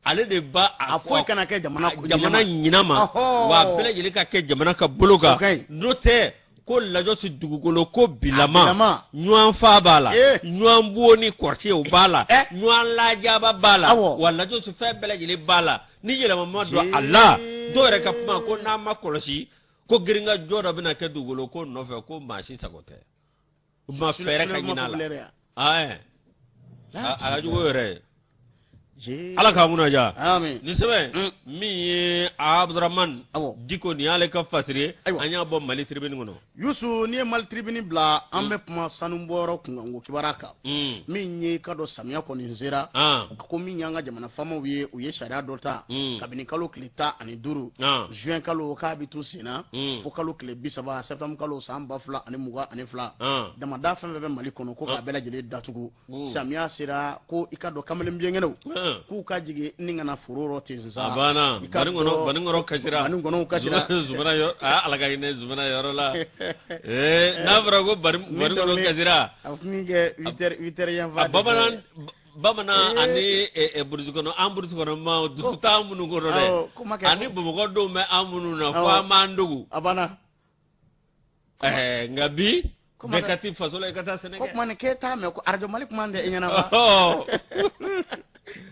ale de ba a foyi kana kɛ jamana ɲinan ma wa a bɛɛ lajɛlen ka kɛ jamana ka bolo kan n'o tɛ ko lajɔsi dugukolo ko bilama ɲɔgɔn fa b'a la eh. ɲɔgɔn bon ni kɔrɔti ye o b'a la eh. ɲɔgɔn lajaba b'a la wa lajɔsi fɛn bɛɛ lajɛlen b'a la ni yɛlɛma ma don a la dɔw yɛrɛ ka kuma ko n'a ma kɔlɔsi ko girinkajɔ dɔ bɛna kɛ dugukolo ko nɔfɛ ko maa si sago tɛ u ma fɛɛrɛ ka ɲin'a la a ka jugu yɛrɛ ala k'a mun ja nin sɛbɛn mm. min ye abudurahman diko nin y'ale ka fasiri ye an y'a bɔ mali tribune kɔnɔ yusu n'i ye mali tribune bila an mm. bɛ kuma sanubɔyɔrɔ kunkanko kibaruya kan mm. min ye i k'a dɔn samiya kɔni sera ah. ko min y'an ka jamana faamaw ye u ye sariya dɔ ta kabini kalo tile tan ani duuru ah. juin kalo k'a bɛ to sen na hmm. fo kalo tile bi saba septembre kalo san ba fila ani mugan ani fila ah. damanda fɛn fɛn bɛ mali kɔnɔ ko k'a ah. bɛɛ lajɛlen datugu hmm. samiya sera ko i k'a dɔn kamalen biɲɛnkɛnɛw ah. k'u ka jigin ni ka na foro rɔ ten sisan baninkɔnɔw kasira baninkɔnɔw kasira zumana yɔrɔ aa ala ka hinɛ zumana yɔrɔ la ee n'a fɔra ko baninkɔnɔw kasira a tun bɛ kɛ huit heures huit heures yan fan bamanan bamanan ani burusi kɔnɔ an burusi kɔnɔ ma dusu t'an minnu kɔnɔ dɛ Awɔ, kuma kɛ ani bamakɔ denw bɛ an minnu na fo Awɔ. an b'an dogo a banna Ɛɛ, nka bi Kuma bɛɛ kɛ- ka ti faso la i ka taa sɛnɛ ko kɛ kuma ni k'e t'a mɛn ko arajo mali kuma tɛ i ɲɛna wa Ɔhɔ.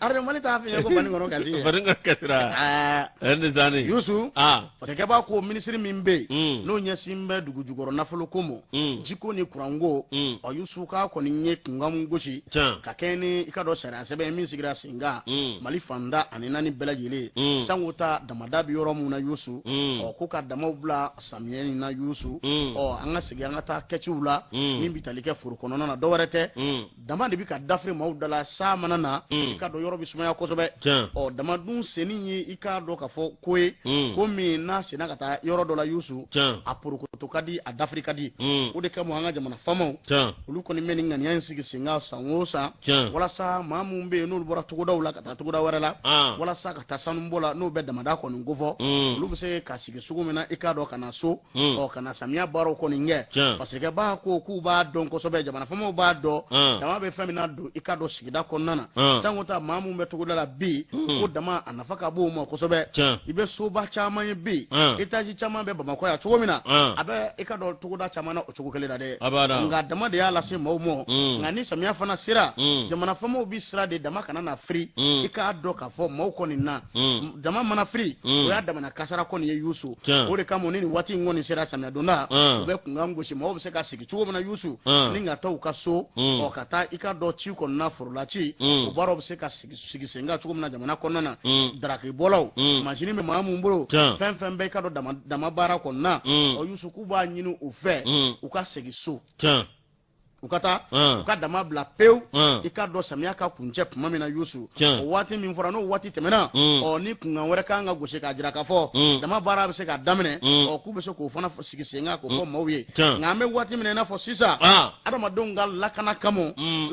arajo mali t'a f'i ye ko banikɔnɔ kasi ye banikɔnɔ kasira Aa, ɛɛ, nin sanni. yusu aa parce que b'a ko minisiri min bɛ yen mm. n'o ɲɛsin bɛ dugu jukɔrɔ nafolo ko ma mm. jiko ni kuranko mm. ɔ yusu k'a kɔni ye kunkan min gosi ka kɛɲɛ ni i k'a dɔn sariya sɛbɛn min sigira sen kan mali fan tan ni naani bɛɛ lajɛlen sanko ta damada bɛ yɔrɔ min na yusu ɔ ko ka damaw bila samiyɛ in na yusu ɔ an ka segin an ka taa kɛciw la min bɛ tali kɛ foro kɔnɔna na dɔwɛrɛ tɛ dama de bɛ ka dafiri maaw da la san mana na hmm. i k'a dɔn yɔrɔ bɛ sumaya kosɛbɛ ɔ dama dun senni ye i k'a dɔn ka fɔ ko ye hmm. ko min n'a senna ka taa yɔrɔ dɔ la yusu a porokoto ka di a dafiri ka di hmm. o de kama an ka jamana faamaw olu kɔni bɛ nin ŋaniya in sigi sen kan san o san walasa maa minnu bɛ yen n'olu bɔra togodaw la ka taa togoda wɛrɛ la ah. walasa ka taa sanubɔ la n'o bɛ damada kɔni kofɔ olu bɛ se ka sigi cogo min na i k'a dɔn ka na so Hmm. ɔ ka na samiya baaraw kɔni kɛ parce que b'a ko k'u b'a dɔn kosɛbɛ jamana faamaw b'a dɔn hmm. dama bɛ fɛn min nadon i k'a dɔn sigida kɔnɔna na hmm. sanko ta maa minnu bɛ togoda la bi ko dama a nafa ka bon u ma kosɛbɛ i bɛ soba caman ye bi etaji caman bɛ bamakɔ yan cogo min na a bɛ i k'a dɔn togoda caman na o cogo kelen na dɛ nka dama de y'a lase maaw ma nka ni samiya fana sera jamana faamaw bɛ siran de dama kana na firi i k'a dɔn k'a fɔ maaw kɔni na dama mana firi o y'a damana kasaara kɔni ye yusu o de kama ni nin waati in kɔni sera samiya donda u bɛ kunkan gosi maaw bɛ se ka sigi cogo min na yusu ni ka taa u ka so ɔ ka taa i k'a dɔn ci kɔnɔna forola ci o baaraw bɛ se ka sigi sen kan cogo min na jamana kɔnɔna na darakibɔlaw masini bɛ maa minnu bolo fɛn fɛn bɛ i k'a dɔn dama baara kɔnɔna ɔ yusu k'u b'a ɲini u fɛ u ka segin so u ka taa u ka dama bila pewu i k'a dɔn samiya ka kuncɛ tuma min na yusu o waati min fɔra n'o waati tɛmɛna ɔ ni kunkan wɛrɛ ka kan ka gosi k'a jira k'a fɔ dama baara bɛ se ka daminɛ ɔ k'u bɛ se k'o fana sigi sen kan k'o fɔ maaw ye nka an bɛ waati min na i n'a fɔ sisan adamadenw ka lakana kama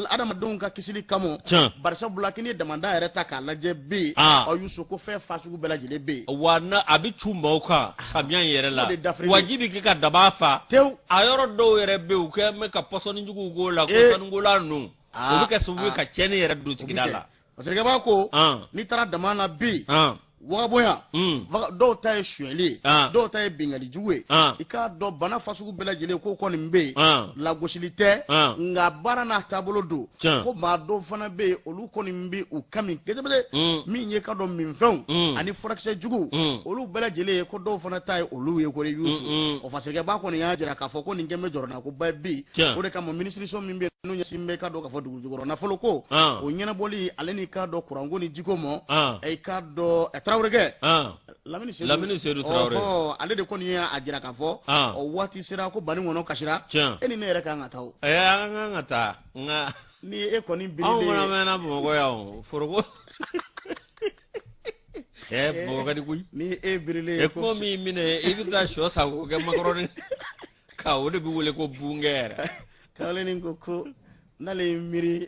adamadenw ka kisili kama barisabula k'i ni damada yɛrɛ ta k'a lajɛ bi ɔ yusu ko fɛn fasugu bɛɛ lajɛlen bɛ yen wa a bɛ cun maaw kan samiya in yɛrɛ la wa ji bɛ kɛ ka dama fa tewu a yɔrɔ dɔw yɛrɛ bɛ yen u kɛ bɛ ka pɔsɔni juguw k'o la ɔ sanukola ninnu o bɛ kɛ sababu ye ka tiɲɛni yɛrɛ don sigida la parce que b'a ko n'i taara dama na bi wagabonya dɔw ta ye sonyali ye dɔw ta ye binkanni jugu ye i k'a dɔn bana fasugu bɛɛ lajɛlen ko kɔni bɛ yen lagosili tɛ nka baara n'a taabolo don ko maa dɔw fana bɛ yen olu kɔni bɛ u ka min kosɛbɛ mm. min ye k'a dɔn minfɛnw mm. ani furakisɛ jugu mm. olu bɛɛ lajɛlen ye ko dɔw fana ta ye olu ye ko yusu o fasikɛba kɔni y'a jira k'a fɔ ko nin kɛn bɛ jɔrɔnakoba bi o de kama minisiriso min bɛ n'o ɲɛsin bɛ k'a dɔn k'a fɔ dugujukɔrɔ nafolo ko ah. o ɲɛnabɔli ale ni k'a dɔn kuranko ni jiko mɔ ah. i k'a dɔn tarawelekɛ ah. lamini sedu lamini sedu tarawele ɔhɔ ale de kɔni y'a jira k'a fɔ o waati sera ko banikɔnɔ kasira tiɲɛ e ni ne yɛrɛ ka kan ka taa o ɛɛ an ka kan ka taa nka ni e kɔni birilen anw fana mɛnna bamakɔ yan o foroko ɛɛ bamakɔ ka di koyi ni e birilen e ko min minɛ i bɛ taa sɔ san k'o kɛ makɔrɔni ka o de bɛ wele ko bungɛ yɛrɛ kawalenin ko ko n'ale ye miiri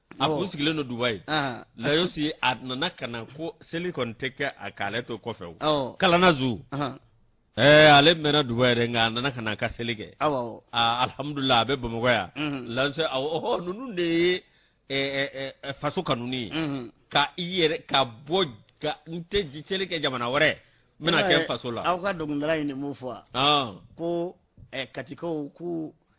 a kun sigilen don dubayi layosi a nana ka na ko seli kɔni tɛ kɛ a k'ale to kɔfɛ o kalana zu ɛɛ ale mɛnna dubayi yɛrɛ nka a nana ka na a ka seli kɛ alihamudulila a bɛ bamakɔ yan lanse awɔ ninnu de ye faso kanuni ye ka i yɛrɛ ka bɔ ka n tɛ seli kɛ jamana wɛrɛ n bɛna kɛ faso la aw ka dɔnkilidala ye nin mun fɔ ko katikaw ko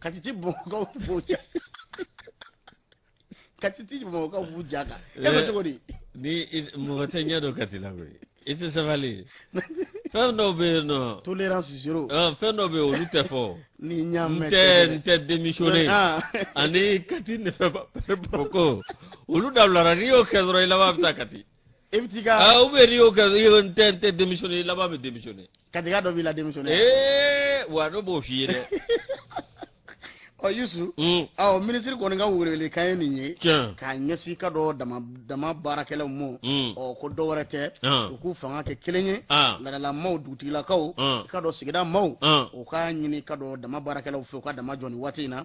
katiti bamakɔkaw b'u ja katiti bamakɔkaw b'u ja kan e bɛ cogo di ni mɔgɔ tɛ ɲɛ dɔn kati la koyi i tɛ sabali fɛn dɔw bɛ yen nɔ tolérance zéro fɛn dɔw bɛ yen olu tɛ fɔ n'i ɲ'a mɛn tɛ n tɛ démissionner ani kati ne fɛ bamakɔ olu dabilara n'i y'o kɛ dɔrɔn i laban bɛ taa kati e bɛ t'i ka aa ou bien n'i y'o kɛ i n tɛ n tɛ démissionner i laban bɛ démissionner katika dɔ b'i la démissionner ee wa ne b'o f'i ye dɛ ɔ yusu ɔ minisiri kɔni ka welewele kan ye nin ye k'a ɲɛsin k'a dɔn dama dama baarakɛlaw ma ɔ ko dɔ wɛrɛ tɛ u k'u fanga kɛ kelen ye laadala maaw dugutigilakaw k'a dɔn sigida maaw u k'a ɲini k'a dɔn dama baarakɛlaw fɛ u ka dama jɔ nin waati in na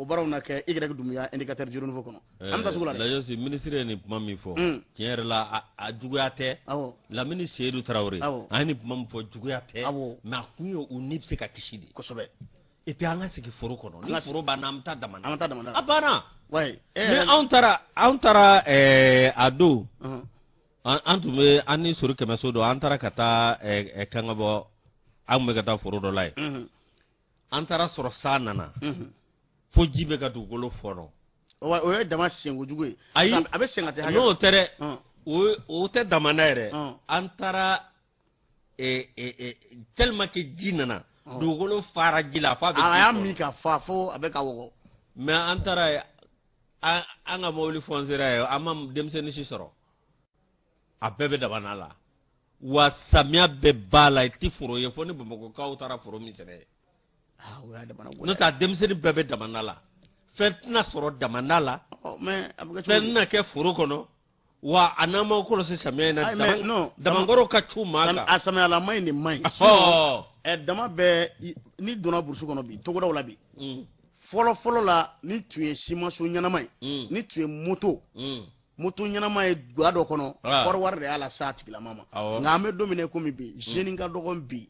o baaraw na kɛ y dunbiya indicateur du renouveau kɔnɔ an bɛ taa sugu la dɛ, Layosi ministre ye nin kuma min fɔ tiɲɛ yɛrɛ la a juguya tɛ Lamini Seyidu Tarawele a ye nin kuma min fɔ juguya tɛ mais a kun ye u ni bɛ se ka kisi de kosɛbɛ et puis an ka sigi foro kɔnɔ ni foro banna an bɛ taa dama na an bɛ taa dama na a banna mais anw taara anw taara a don an tun bɛ an ni sori kɛmɛso don an taara ka taa kangabɔ an tun bɛ ka taa foro dɔ la yen an taara sɔrɔ san nana fo ji bɛ ka dugukolo fɔnɔ o ye dama senko jugu ye ayi a bɛ sen ka tɛ n'o tɛ dɛ o tɛ dama na yɛrɛ an taara tellement que ji nana dugukolo fara ji la fo a y'a min ka fa fo a bɛ ka wɔgɔ mais an taara an ka mobili fɔnsera yen an ma denmisɛnnin si sɔrɔ a bɛɛ bɛ damanda la wa samiya bɛɛ b'a la i tɛ foro ye fo ni bamakɔkaw taara foro min sɛnɛ ah, n'o tɛ denmisɛnnin bɛɛ bɛ damanda la fɛn tɛna sɔrɔ damanda la oh, fɛn tɛna kɛ foro kɔnɔ wa a n'an m'a kɔlɔsi samiya in na damankɔrɔ ka cun maa kan a samiyalama in de man ɲi dama bɛɛ n'i donna burusi kɔnɔ bi togodaw la bi mm. fɔlɔ fɔlɔ la ni tun ye simanso ɲɛnama ye mm. ni tun ye moto mm. moto ɲɛnama ye ga dɔ kɔnɔ ah. kɔɔri wari de y'a las'a tigilama ma nka an bɛ don min na komi bi mm. jeune ka dɔgɔ bi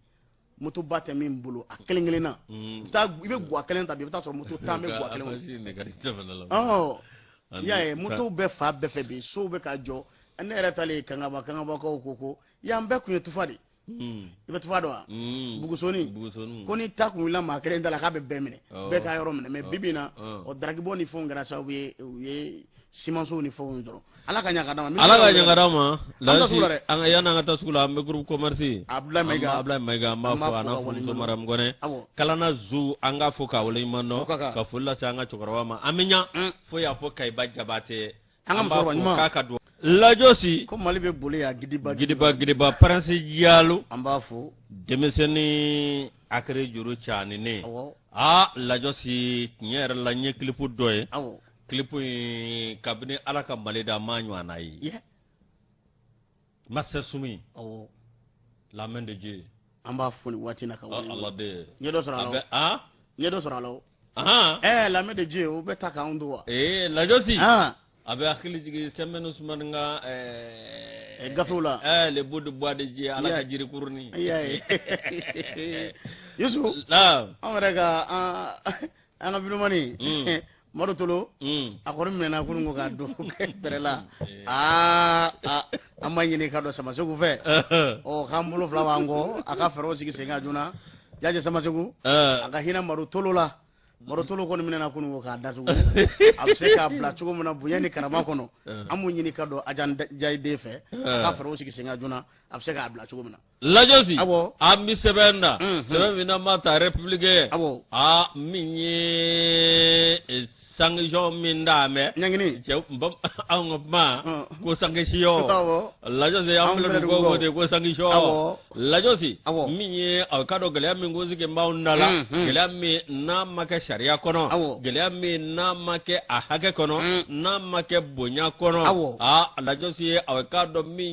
motoba tɛ min bolo a kelen kelen na mm. i bɛ gwa kelen ta bi i bɛ taa sɔrɔ moto tan bɛ gwa kelen kɔnɔ i y'a ye motow bɛ fan bɛɛ fɛ bi sow bɛ ka jɔ ne yɛrɛ taalen kangaba kangabakaw ko ko yan bɛɛ tun ye tufa de Hmm. i bɛ tufa dɔn wa hmm. bugusoni ko ni ta kun wulila maa kelen da la k'a bɛ bɛɛ minɛ oh. bɛɛ ka yɔrɔ minɛ mais oh. bibi na oh. o daragibɔ ni fɛnw kɛra sababu ye u ye simanso ni fɛnw sɔrɔ ala ka ɲaga d'an ma ala ka ɲaga d'an ma lasi an ka yan an ka taa sugu la an bɛ groupe commerce abdulayi mayiga abdulayi mayiga an b'a fo a n'a furumuso mariam kɔnɛ kalana zu an k'a fo k'a waleɲuman dɔn ka foli lase an ka cɛkɔrɔba ma an bɛ ɲa mm. fo y'a fɔ kayiba jabaate An ka musokɔrɔba ɲuman. An b'a fo k'a ka duwawu Lajɔsi, ko Mali bɛ boli yan gidiba gidiba gidiba Pɛrɛnsi Jalo, an b'a fo, denmisɛnnin Akere Juru Caaninen, awɔ, aa Lajɔsi tiɲɛ yɛrɛ la n ye clip dɔ ye, awɔ, clip in kabini Ala ka Mali da n m'a ɲɔgɔnna ye, yɛ master sumi la main de dieu an b'a fo nin waati na ka dɔ sɔrɔ a n ye dɔ sɔrɔ a la ɛɛ la main de dieu o bɛ ta k'an don wa ee lajɔsi a bɛ hakili jigin sɛnbɛni usumani ka ɛɛ gafew la ɛɛ les bouts de bois de dieu ala ka jirikurunin yusu anw yɛrɛ ka an ka vidéoman Tolo a kɔni minɛna kunun ko k'a don bɛrɛ la aa an b'a ɲini ka don samaseku fɛ ɔ k'an bolo fila b'an kɔ a ka fɛɛrɛw sigi sen kan joona jajɛ samaseku a ka hinɛ madu tolo la madu tolo kɔni minɛna kunun ko k'a datugu a bɛ se k'a bila cogo min na bonya ni karama kɔnɔ an b'u ɲini ka don a jayiden fɛ a ka fɛɛrɛw sigi sen kan joona a bɛ se k'a bila cogo min na lajɔsi an bɛ sɛbɛn na sɛbɛn min ma ta république min ye e, sanction min d'a mɛ anw ka kuma ko sanction lajɔsi an ko de ko sanction lajɔsi min ye a ka dɔn gɛlɛya min ko sigi b'anw da la gɛlɛya min n'a ma kɛ sariya kɔnɔ gɛlɛya min n'a ma kɛ a hakɛ kɔnɔ n'a ma kɛ bonya kɔnɔ a lajɔsi ye a ka dɔn min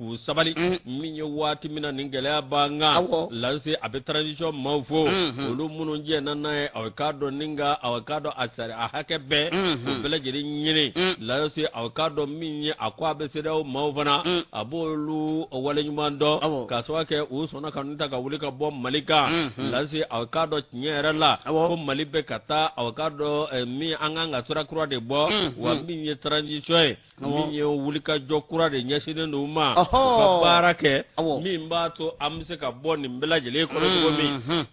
k'u sabali min ye waati min na nin gɛlɛya b'an kan lajɔsi a bɛ transition maaw fo olu minnu jɛnna n'a ye aw k'a dɔn ni ka aw k'a dɔn a sari a hakɛ bɛɛ o bɛɛ lajɛlen ɲini lajɔsi aw k'a dɔn min ye a ko a bɛ sedawo maaw fana a b'olu waleɲuman dɔn k'a sababu kɛ u sɔnna ka ta ka wuli ka bɔ mali kan lajɔsi aw k'a dɔn tiɲɛ yɛrɛ la ko mali bɛ ka taa aw k'a dɔn min an kan ka sira kura de bɔ wa min ye transition ye min ye wulikajɔ kura de ɲɛsinnen don ma ka baara kɛ min b'a to an bɛ se ka bɔ nin bɛɛ lajɛlen kɔnɔ cogo min mhm.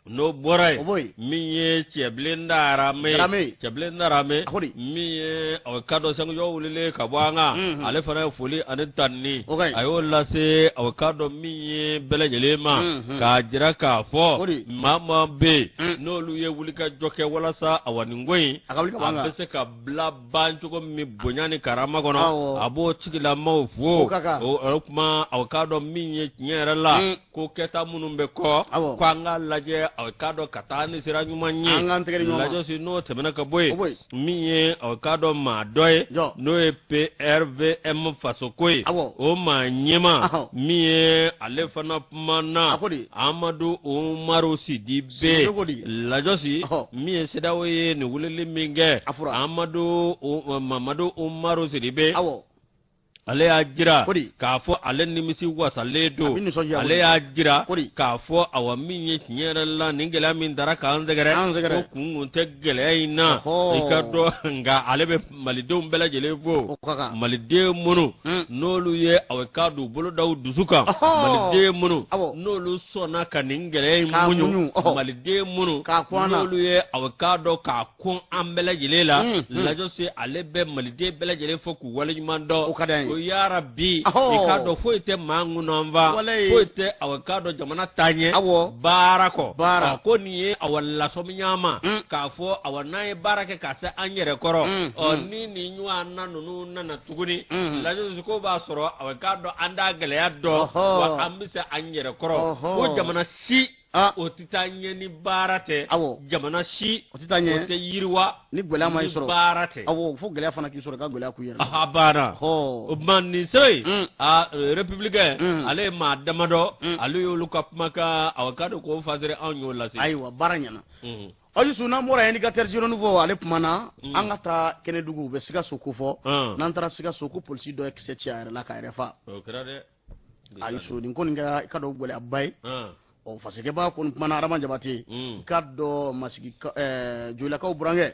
n'o bɔra yen min ye cɛbilen darame min ye aw k'a dɔn sanction wulilen ka bɔ an kan mhm. ale fana ye foli ani tanni a y'o lase aw k'a dɔn min ye bɛɛ lajɛlen ma mhm. k'a jira k'a fɔ maa maa bɛ yen mm. n'olu ye wulikajɔ kɛ walasa awa nin ko in a bɛ se ka bila ban cogo min bonya ni karama kɔnɔ a b'o tigilamaw fo o tuma a k'a dɔn min ye tiɲɛ yɛrɛ la mm. ko kɛta minnu bɛ kɔ ko an ka lajɛ a k'a dɔn ka taa ni sira ɲuman ye lajɔsi n'o tɛmɛna ka bɔ yen min ye a k'a dɔn maa dɔ ye n'o ye prvm fasoko ye o maa ɲɛmaa min ye ale fana kumana amadu umaru sidi be lajɔsi min ye sedawo ye nin wulili min kɛ mamadu umaru sidibe ale y'a jira k'a fɔ ale nimisi wasalen don ale y'a jira k'a fɔ awa min ye tiɲɛ yɛrɛ la nin gɛlɛya min dara k'an sɛgɛrɛ ko kun kun tɛ gɛlɛya in na i k'a dɔn nka ale bɛ malidenw bɛɛ lajɛlen fo maliden minnu hmm. n'olu ye aw k'a dɔn bolo da u dusu kan maliden minnu n'olu sɔnna ka nin gɛlɛya in muɲu maliden minnu n'olu ye aw k'a dɔn k'a kun an bɛɛ lajɛlen la hmm, hmm. lajɔsi ale bɛ maliden bɛɛ lajɛlen fo k'u waleɲuman dɔn ko yara bi i k'a dɔn foyi tɛ maa kɔnɔ fa foyi tɛ a k'a dɔn jamana taa ɲɛ baara kɔ ko nin ye awa lasɔmi y'an ma k'a fɔ a n'an ye baara kɛ ka se an yɛrɛ kɔrɔ mm, ɔ mm. ni nin ɲɔgɔnna ninnu nana tuguni mm. lajɔsi k'o b'a sɔrɔ a k'a dɔn an da gɛlɛya dɔn wa an bɛ se an yɛrɛ kɔrɔ ko jamana si ah. o tɛ taa ɲɛ ni baara tɛ jamana si o tɛ taa ɲɛ o tɛ yiriwa ni gɛlɛya m'i sɔrɔ baara tɛ awo fo gɛlɛya fana k'i sɔrɔ ka gɛlɛya kun yɛrɛ a baara o tuma nin so in a républicain ale ye maa damadɔ ale y'olu ka kumakan aw k'a dɔn k'o fasari anw y'o lase ayiwa baara ɲɛna Ayisu n'an bɔra yen ka teriruruni fɔ ale tuma na mm. an ka taa kɛnɛdugu u bɛ sikaso ko fɔ mm. n'an taara sikaso ko polisi dɔ ye kisɛ ci a yɛrɛ la k'a yɛrɛ fa ayisu nin kɔni kɛra i k'a dɔn gɛlɛyaba ye mm. ɔ fasirikɛbaa ko komandan adama jabate i k'a dɔn ma eh, jolakaw burankɛ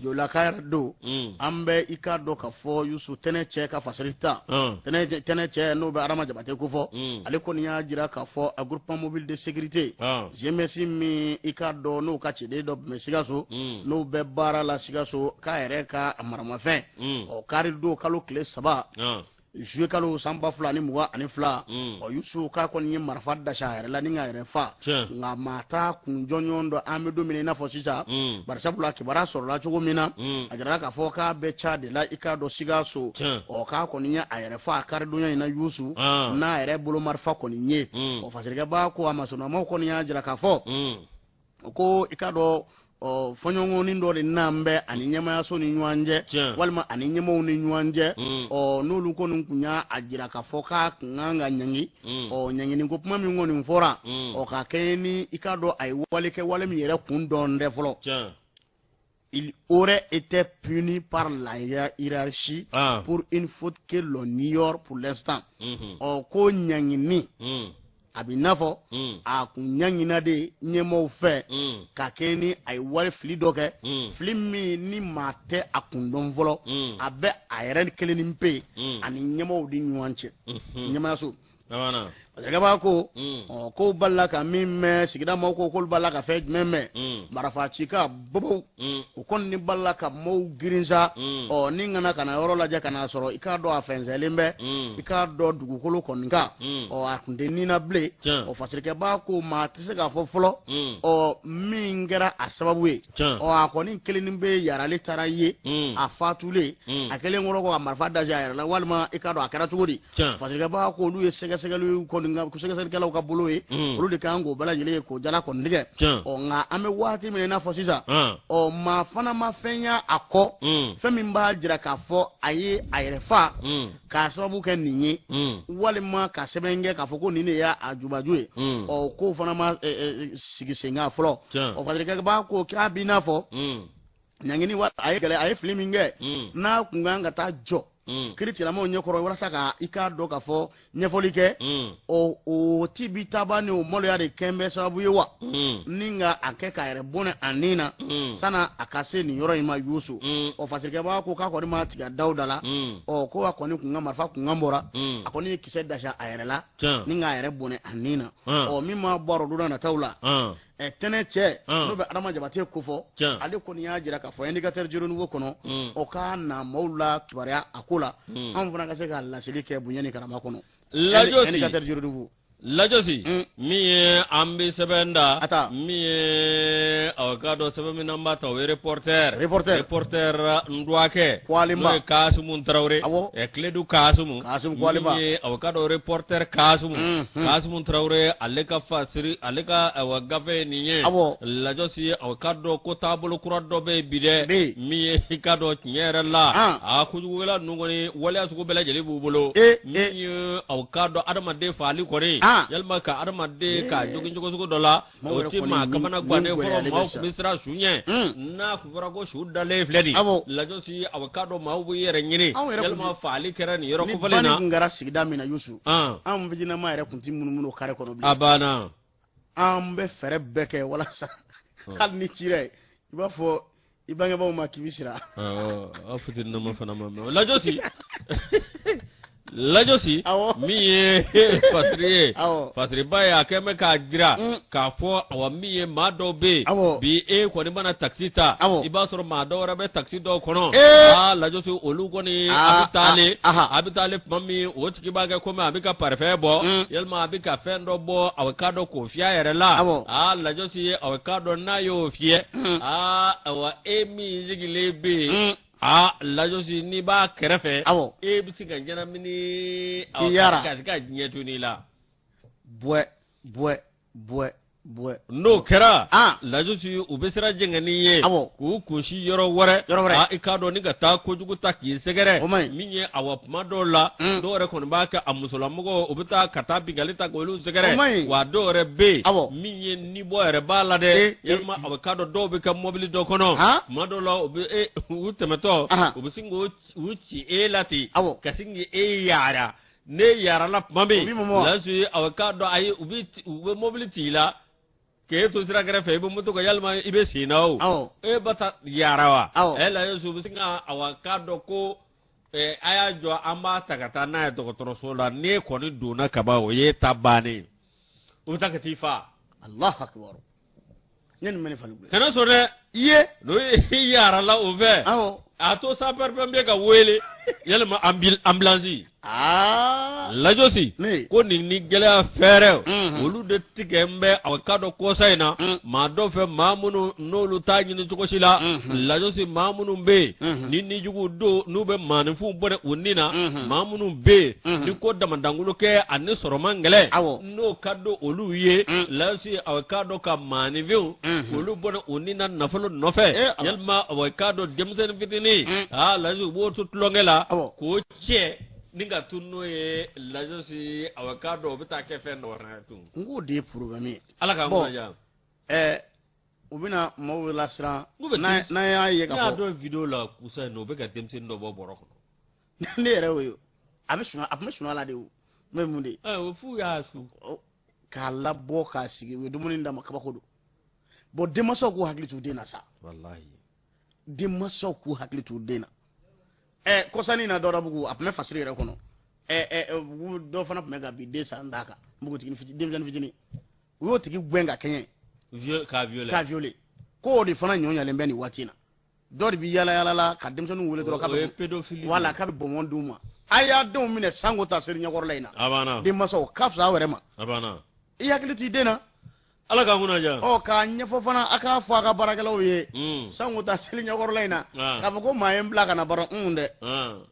jolaka yɛrɛ don an bɛ i k'a dɔn k'a fɔ yusu tɛnɛ cɛ ka fasari ta tɛnɛ cɛ n'o bɛ adama jabate ko fɔ ale kɔni y'a jira k'a fɔ a groupement mobile de sécurité GMS min i k'a dɔn n'o ka ciden dɔ tun bɛ sikaso mm. n'o bɛ baara la sikaso k'a yɛrɛ ka maramafɛn mm. ɔ kari don kalo tile saba ah. zuye kalo san ba fila ni mugan ani fila mm. ɔ yusu k'a kɔni ye marifa dasa a yɛrɛ la ni k'a yɛrɛ fa nka maa t'a kun jɔnjɔn dɔn an bɛ don min i n'a fɔ sisan barisabula kibaruya sɔrɔla cogo min na a jirala k'a fɔ k'a bɛ ca de la i k'a dɔn sikaso ɔ k'a kɔni ye a yɛrɛ fa a karidonya in na yusu ah. n'a yɛrɛ bolo marifa kɔni ye fasirikɛbaa ko a masurunnamaaw kɔni y'a jira k'a fɔ u ko i k'a dɔn ɔ fɔɲɔgɔnkɔnin dɔ de nan bɛ a ni ɲɛmaayaso ni ɲɔgɔn cɛ walima a ni ɲɛmaaw ni ɲɔgɔn cɛ ɔ n'olu kɔni tun y'a a jira k'a fɔ k'a kun kan ka ɲangi ɔ ɲangini ko kuma min kɔni fɔra ɔ ka kɛ ni i k'a dɔn a ye wale kɛ wale min yɛrɛ kun dɔn tɛ fɔlɔ il aurait été puni par la hiérarchie ah. pour une faute que l'on ignore pour l'instant. Mhm. Ɔ ko ɲangini mm. a b'i n'a fɔ mm. a kun ɲangina de ɲɛmɔgɔw fɛ mm. ka kɛ ni a ye wale fili dɔ kɛ fili min ni maa tɛ a kun dɔn fɔlɔ a bɛ a yɛrɛ kelennin pe a ni ɲɛmɔgɔw ni ɲɔgɔn cɛ ɲɛmɔgɔyaso. fasirikɛbaa ko mm. k'u balala ka min mɛn sigida maaw ko k'olu balala ka fɛn jumɛn mɛn mm. marifa cikan bobow mm. u kɔni balala ka maaw girin sa ɔ ni ka na ka na yɔrɔ lajɛ ka n'a sɔrɔ i k'a dɔn a fɛnsɛnlen bɛ i k'a dɔn dugukolo kɔni kan ɔ a kun tɛ ni na bilen ɔ fasirikɛbaa ko maa tɛ se k'a fɔ fɔlɔ ɔ min kɛra a sababu ye ɔ a kɔni kɛlen bɛ yala ale taara ye a fatulen a kelen kɔrɔ ko a marifa da a yɛrɛ la walima i k'a dɔn a kɛra cogo di fasirikɛbaa ko olu ye sɛgɛsɛgɛli sɛgɛsɛgɛlikɛlaw ka bolo ye hmm. olu de kan k'o bɛɛ lajɛlen ye k'o jala kɔni tigɛ ɔ nka an bɛ waati min i n'a fɔ sisan ɔ maa fana ma fɛn ye a kɔ hmm. fɛn min b'a jira k'a fɔ a ye a yɛrɛ fa hmm. k'a sababu kɛ nin ye walima ka sɛbɛn kɛ k'a fɔ ko nin de y'a a jubaju ye ɔ k'o fana ma sigi sen kan fɔlɔ ɔ fasirikɛbaa ko k'a b'i n'a fɔ ɲangini wa a ye gɛlɛ a ye fili min kɛ mm. n'a kun kan ka taa jɔ mm. kiritigɛlamaaw ɲɛkɔrɔ walasa ka i k'a dɔn k'a fɔ ɲɛfɔli kɛ mm. ɔ o tibitaba ni o maloya de kɛn bɛ sababu ye wa ni k'a kɛ k'a yɛrɛ bɔnɛ a ni na sani a ka se nin yɔrɔ in ma yusu ɔ fasirikɛbaga ko k'a kɔni ma tigɛ dawuda la ɔ ko a kɔni kunkan marifa kunkan bɔra a kɔni ye kisɛ dasa a yɛrɛ la ni k'a yɛrɛ bɔnɛ a ni na ɔ min ma bɔ a rɔ don na nataw la ɛ tɛnɛ cɛ Ɔn. n'o bɛ adama jabate kofɔ Tiɲɛ. ale kɔni y'a jira k'a fɔ indicateur du Renouveau kɔnɔ Mm. o ka na maaw lakibaruya a ko la Mm. anw fana ka se ka laseli kɛ bonya ni karama kɔnɔ Lajosi. indicateur du Renouveau lajosi Mm. min ye an bɛ sɛbɛn da A ta. min ye aw bɛ k'a dɔn sɛbɛn min n'an b'a ta o ye reporter Reporter. reporter n dɔgɔkɛ Kwalema. n'o ye kasimu tarawele Awɔ. ɛ Kledu kasimu Kasum Koulibaly min ye aw bɛ k'a dɔn reporter Kasum, Unhun. Kasum Traore ale ka fasiri, ale ka awa gafe ye nin ye, Awɔ. Lajosi aw bɛ k'a dɔn ko taabolo kura dɔ bɛ yen bi dɛ, Bɛ yen. min ye i k'a dɔn tiɲɛ yɛrɛ la, An. a kojugukɛla ninnu kɔni waleya sugu bɛɛ lajɛlen b'u bolo, E, min ye aw bɛ k'a dɔn adamaden fagali kɔni, An. yalima ka adamaden ka jogin cogo sugu dɔ la o tɛ maa kamana gan dɛ fɔlɔ maaw tun bɛ siran su ɲɛ n'a tun fɔra ko su dalen filɛ nin lajosi a bɛ k'a dɔn maaw b'u yɛrɛ ɲini yalima fagali kɛra nin yɔrɔ kofɔlen na ni banni tun kɛra sigida min na Yusu anw fitininnama yɛrɛ tun tɛ munumunu o kare kɔnɔ bilen a banna an bɛ fɛɛrɛ bɛɛ kɛ walasa hali n'i cira yen i b'a fɔ i bangebaaw ma k'i bɛ siran aw fitininnama fana ma mɛ lajɔsi lajɔsi min ye fasiri ye fasiriba ye a kɛlen bɛ k'a jira mm. k'a fɔ awa min ye maa dɔw bɛ yen bi e kɔni mana takisi ta i b'a sɔrɔ maa dɔw wɛrɛ bɛ takisi dɔw kɔnɔ aa lajɔsi olu kɔni a bɛ taa le a bɛ taa le tuma min o tigi b'a kɛ komi a bɛ ka parifɛn bɔ mm. yalima a bɛ ka fɛn dɔ bɔ a bɛ k'a dɔn k'o fiyɛ a yɛrɛ la aa lajɔsi a bɛ k'a dɔn n'a y'o fiyɛ mm. aa awa e min sigilen bɛ yen mm. aa lajosi n'i b'a kɛrɛfɛ awɔ e bɛ se ka ɲɛnamini awɔ yaara ka se ka diɲɛ to n'i la buwɛ buwɛ buwɛ buwɛ n'o kɛra aa lajosi u bɛ sira jɛngɛ n'i ye awɔ k'u kunsin yɔrɔ wɛrɛ yɔrɔ wɛrɛ aa i k'a dɔn ni ka taa kojugu ta k'i sɛgɛrɛ o man ɲi min ye awa tuma dɔw la mm. dɔw yɛrɛ kɔni b'a kɛ a musolamɔgɔw u bɛ taa ka taa binkanni ta k'olu sɛgɛrɛ o man ɲi wa dɔw yɛrɛ bɛ yen awɔ min ye nibɔ yɛrɛ b'a la dɛ eh, eh. yalima a bɛ k'a dɔn dɔw bɛ kɛ mɔbili dɔ kɔnɔ tuma dɔw la u bɛ e u tɛmɛtɔ u bɛ sin k'u u ci e la ten ka sin k'e yaara n'e yaarala tuma min lajosi a bɛ k'a dɔn ayi u bɛ u bɛ mɔbili ci i la k'e to sira kɛrɛfɛ i bɛ moto kan yalima i bɛ sen na o e ba ta yaara wa lajosi u bɛ sin ka a bɛ k'a dɔn ko. Eh, a y'a jɔ an b'a ta ka taa n'a ye dɔgɔtɔrɔso la n'e kɔni donna kaban o y'e ta bannen ye u bɛ taa ka t'i faa Alahu akibaru ne nin bɛ ne falen koyi kana sɔn dɛ i ye n'o ye i yaarala o fɛ awɔ a to sapɛripɛnpiye ka wele yalima anbil- ambulansi aa lajosi ko nin ni gɛlɛya fɛɛrɛw Mhm. olu de tigɛlen bɛ a k'a dɔn kɔsa in na Mm. maa dɔw fɛ maa minnu n'olu t'a ɲini cogo si la lajosi maa minnu bɛ yen ni nijugu don n'u bɛ maaninfinw bɔ u ni na maa minnu bɛ yen ni ko damadangolo kɛ ani sɔrɔ man gɛlɛn n'o ka don olu ye lajosi a k'a dɔn ka maaninfinw olu bɔ u ni na nafolo nɔfɛ yalima a k'a dɔn denmisɛnnin fitinin aa lajosi u b'o to tulonkɛ la k'o cɛ ni ka tun n'o ye lajosi a k'a dɔn o bɛ taa kɛ fɛn dɔ wɛrɛ tun n k'o de ye porobilɛmu ye ala k'a ɛɛ u bɛna maaw bɛɛ lasiran N'u bɛ n'a denmisɛn- n'a y'a ye ne ka y'a fɔ dɔn video la kɔsa in na u bɛ ka denmisɛnnin dɔ bɔ bɔrɔ kɔnɔ ne yɛrɛ y'o ye a bɛ sunɔgɔ a tun bɛ sunɔgɔ la de o n'o ye mun de ye ɛ o f'u y'a su k'a labɔ k'a sigi u ye dumuni d'a ma kabako don bon denmansaw k'u hakili t'u den na sa walahi denmansaw k'u hakili t'u den na ɛ kɔsannin in na dɔdabugu a tun bɛ fasiri yɛrɛ kɔnɔ ɛ ɛ ɛ, bugu dɔ fana tun bɛ ka bin den san d'a kan npogotigini fitini denmisɛnnin fitini u y'o tigi gɛn ka kɛɲɛ k'a violer k'a violer ko o de fana ɲɔɲalen bɛ nin waati in na dɔ de bɛ yaala yaala la ka denmisɛnninw wele dɔrɔn k'a bɛ o ye pédophilie voilà k'a bɛ bɔnbɔn d'u ma a y'a denw minɛ sango ta seli ɲɛkɔrɔla in na a banna denmansaw ka fisa aw yɛrɛ ma a banna i hakili t'i den na ala k'an kunna diya ɔ k'a ɲɛfɔ fana a k'a fɔ a ka baarakɛlaw ye sango ta seli ɲɛkɔrɔla in na k'a fɔ ko maa ye n bila ka na bara un dɛ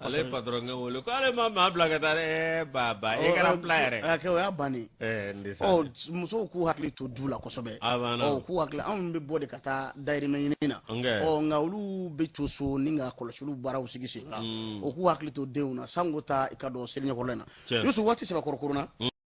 ale patɔrɔnkɛ wele ko ale ma maa bila ka taa e ba ba e kɛra fila yɛrɛ o y'a bannen musow k'u hakili to du la kosɛbɛ k'u hakili anw bɛ bɔ de ka taa dayirimɛ ɲini na ɔ nka olu bɛ to so ni ka kɔlɔsili baaraw sigi sen kan o k'u hakili to denw na sango ta i k'a dɔn seli ɲɛkɔrɔla in na dusu waati sɛbɛkɔrɔ korona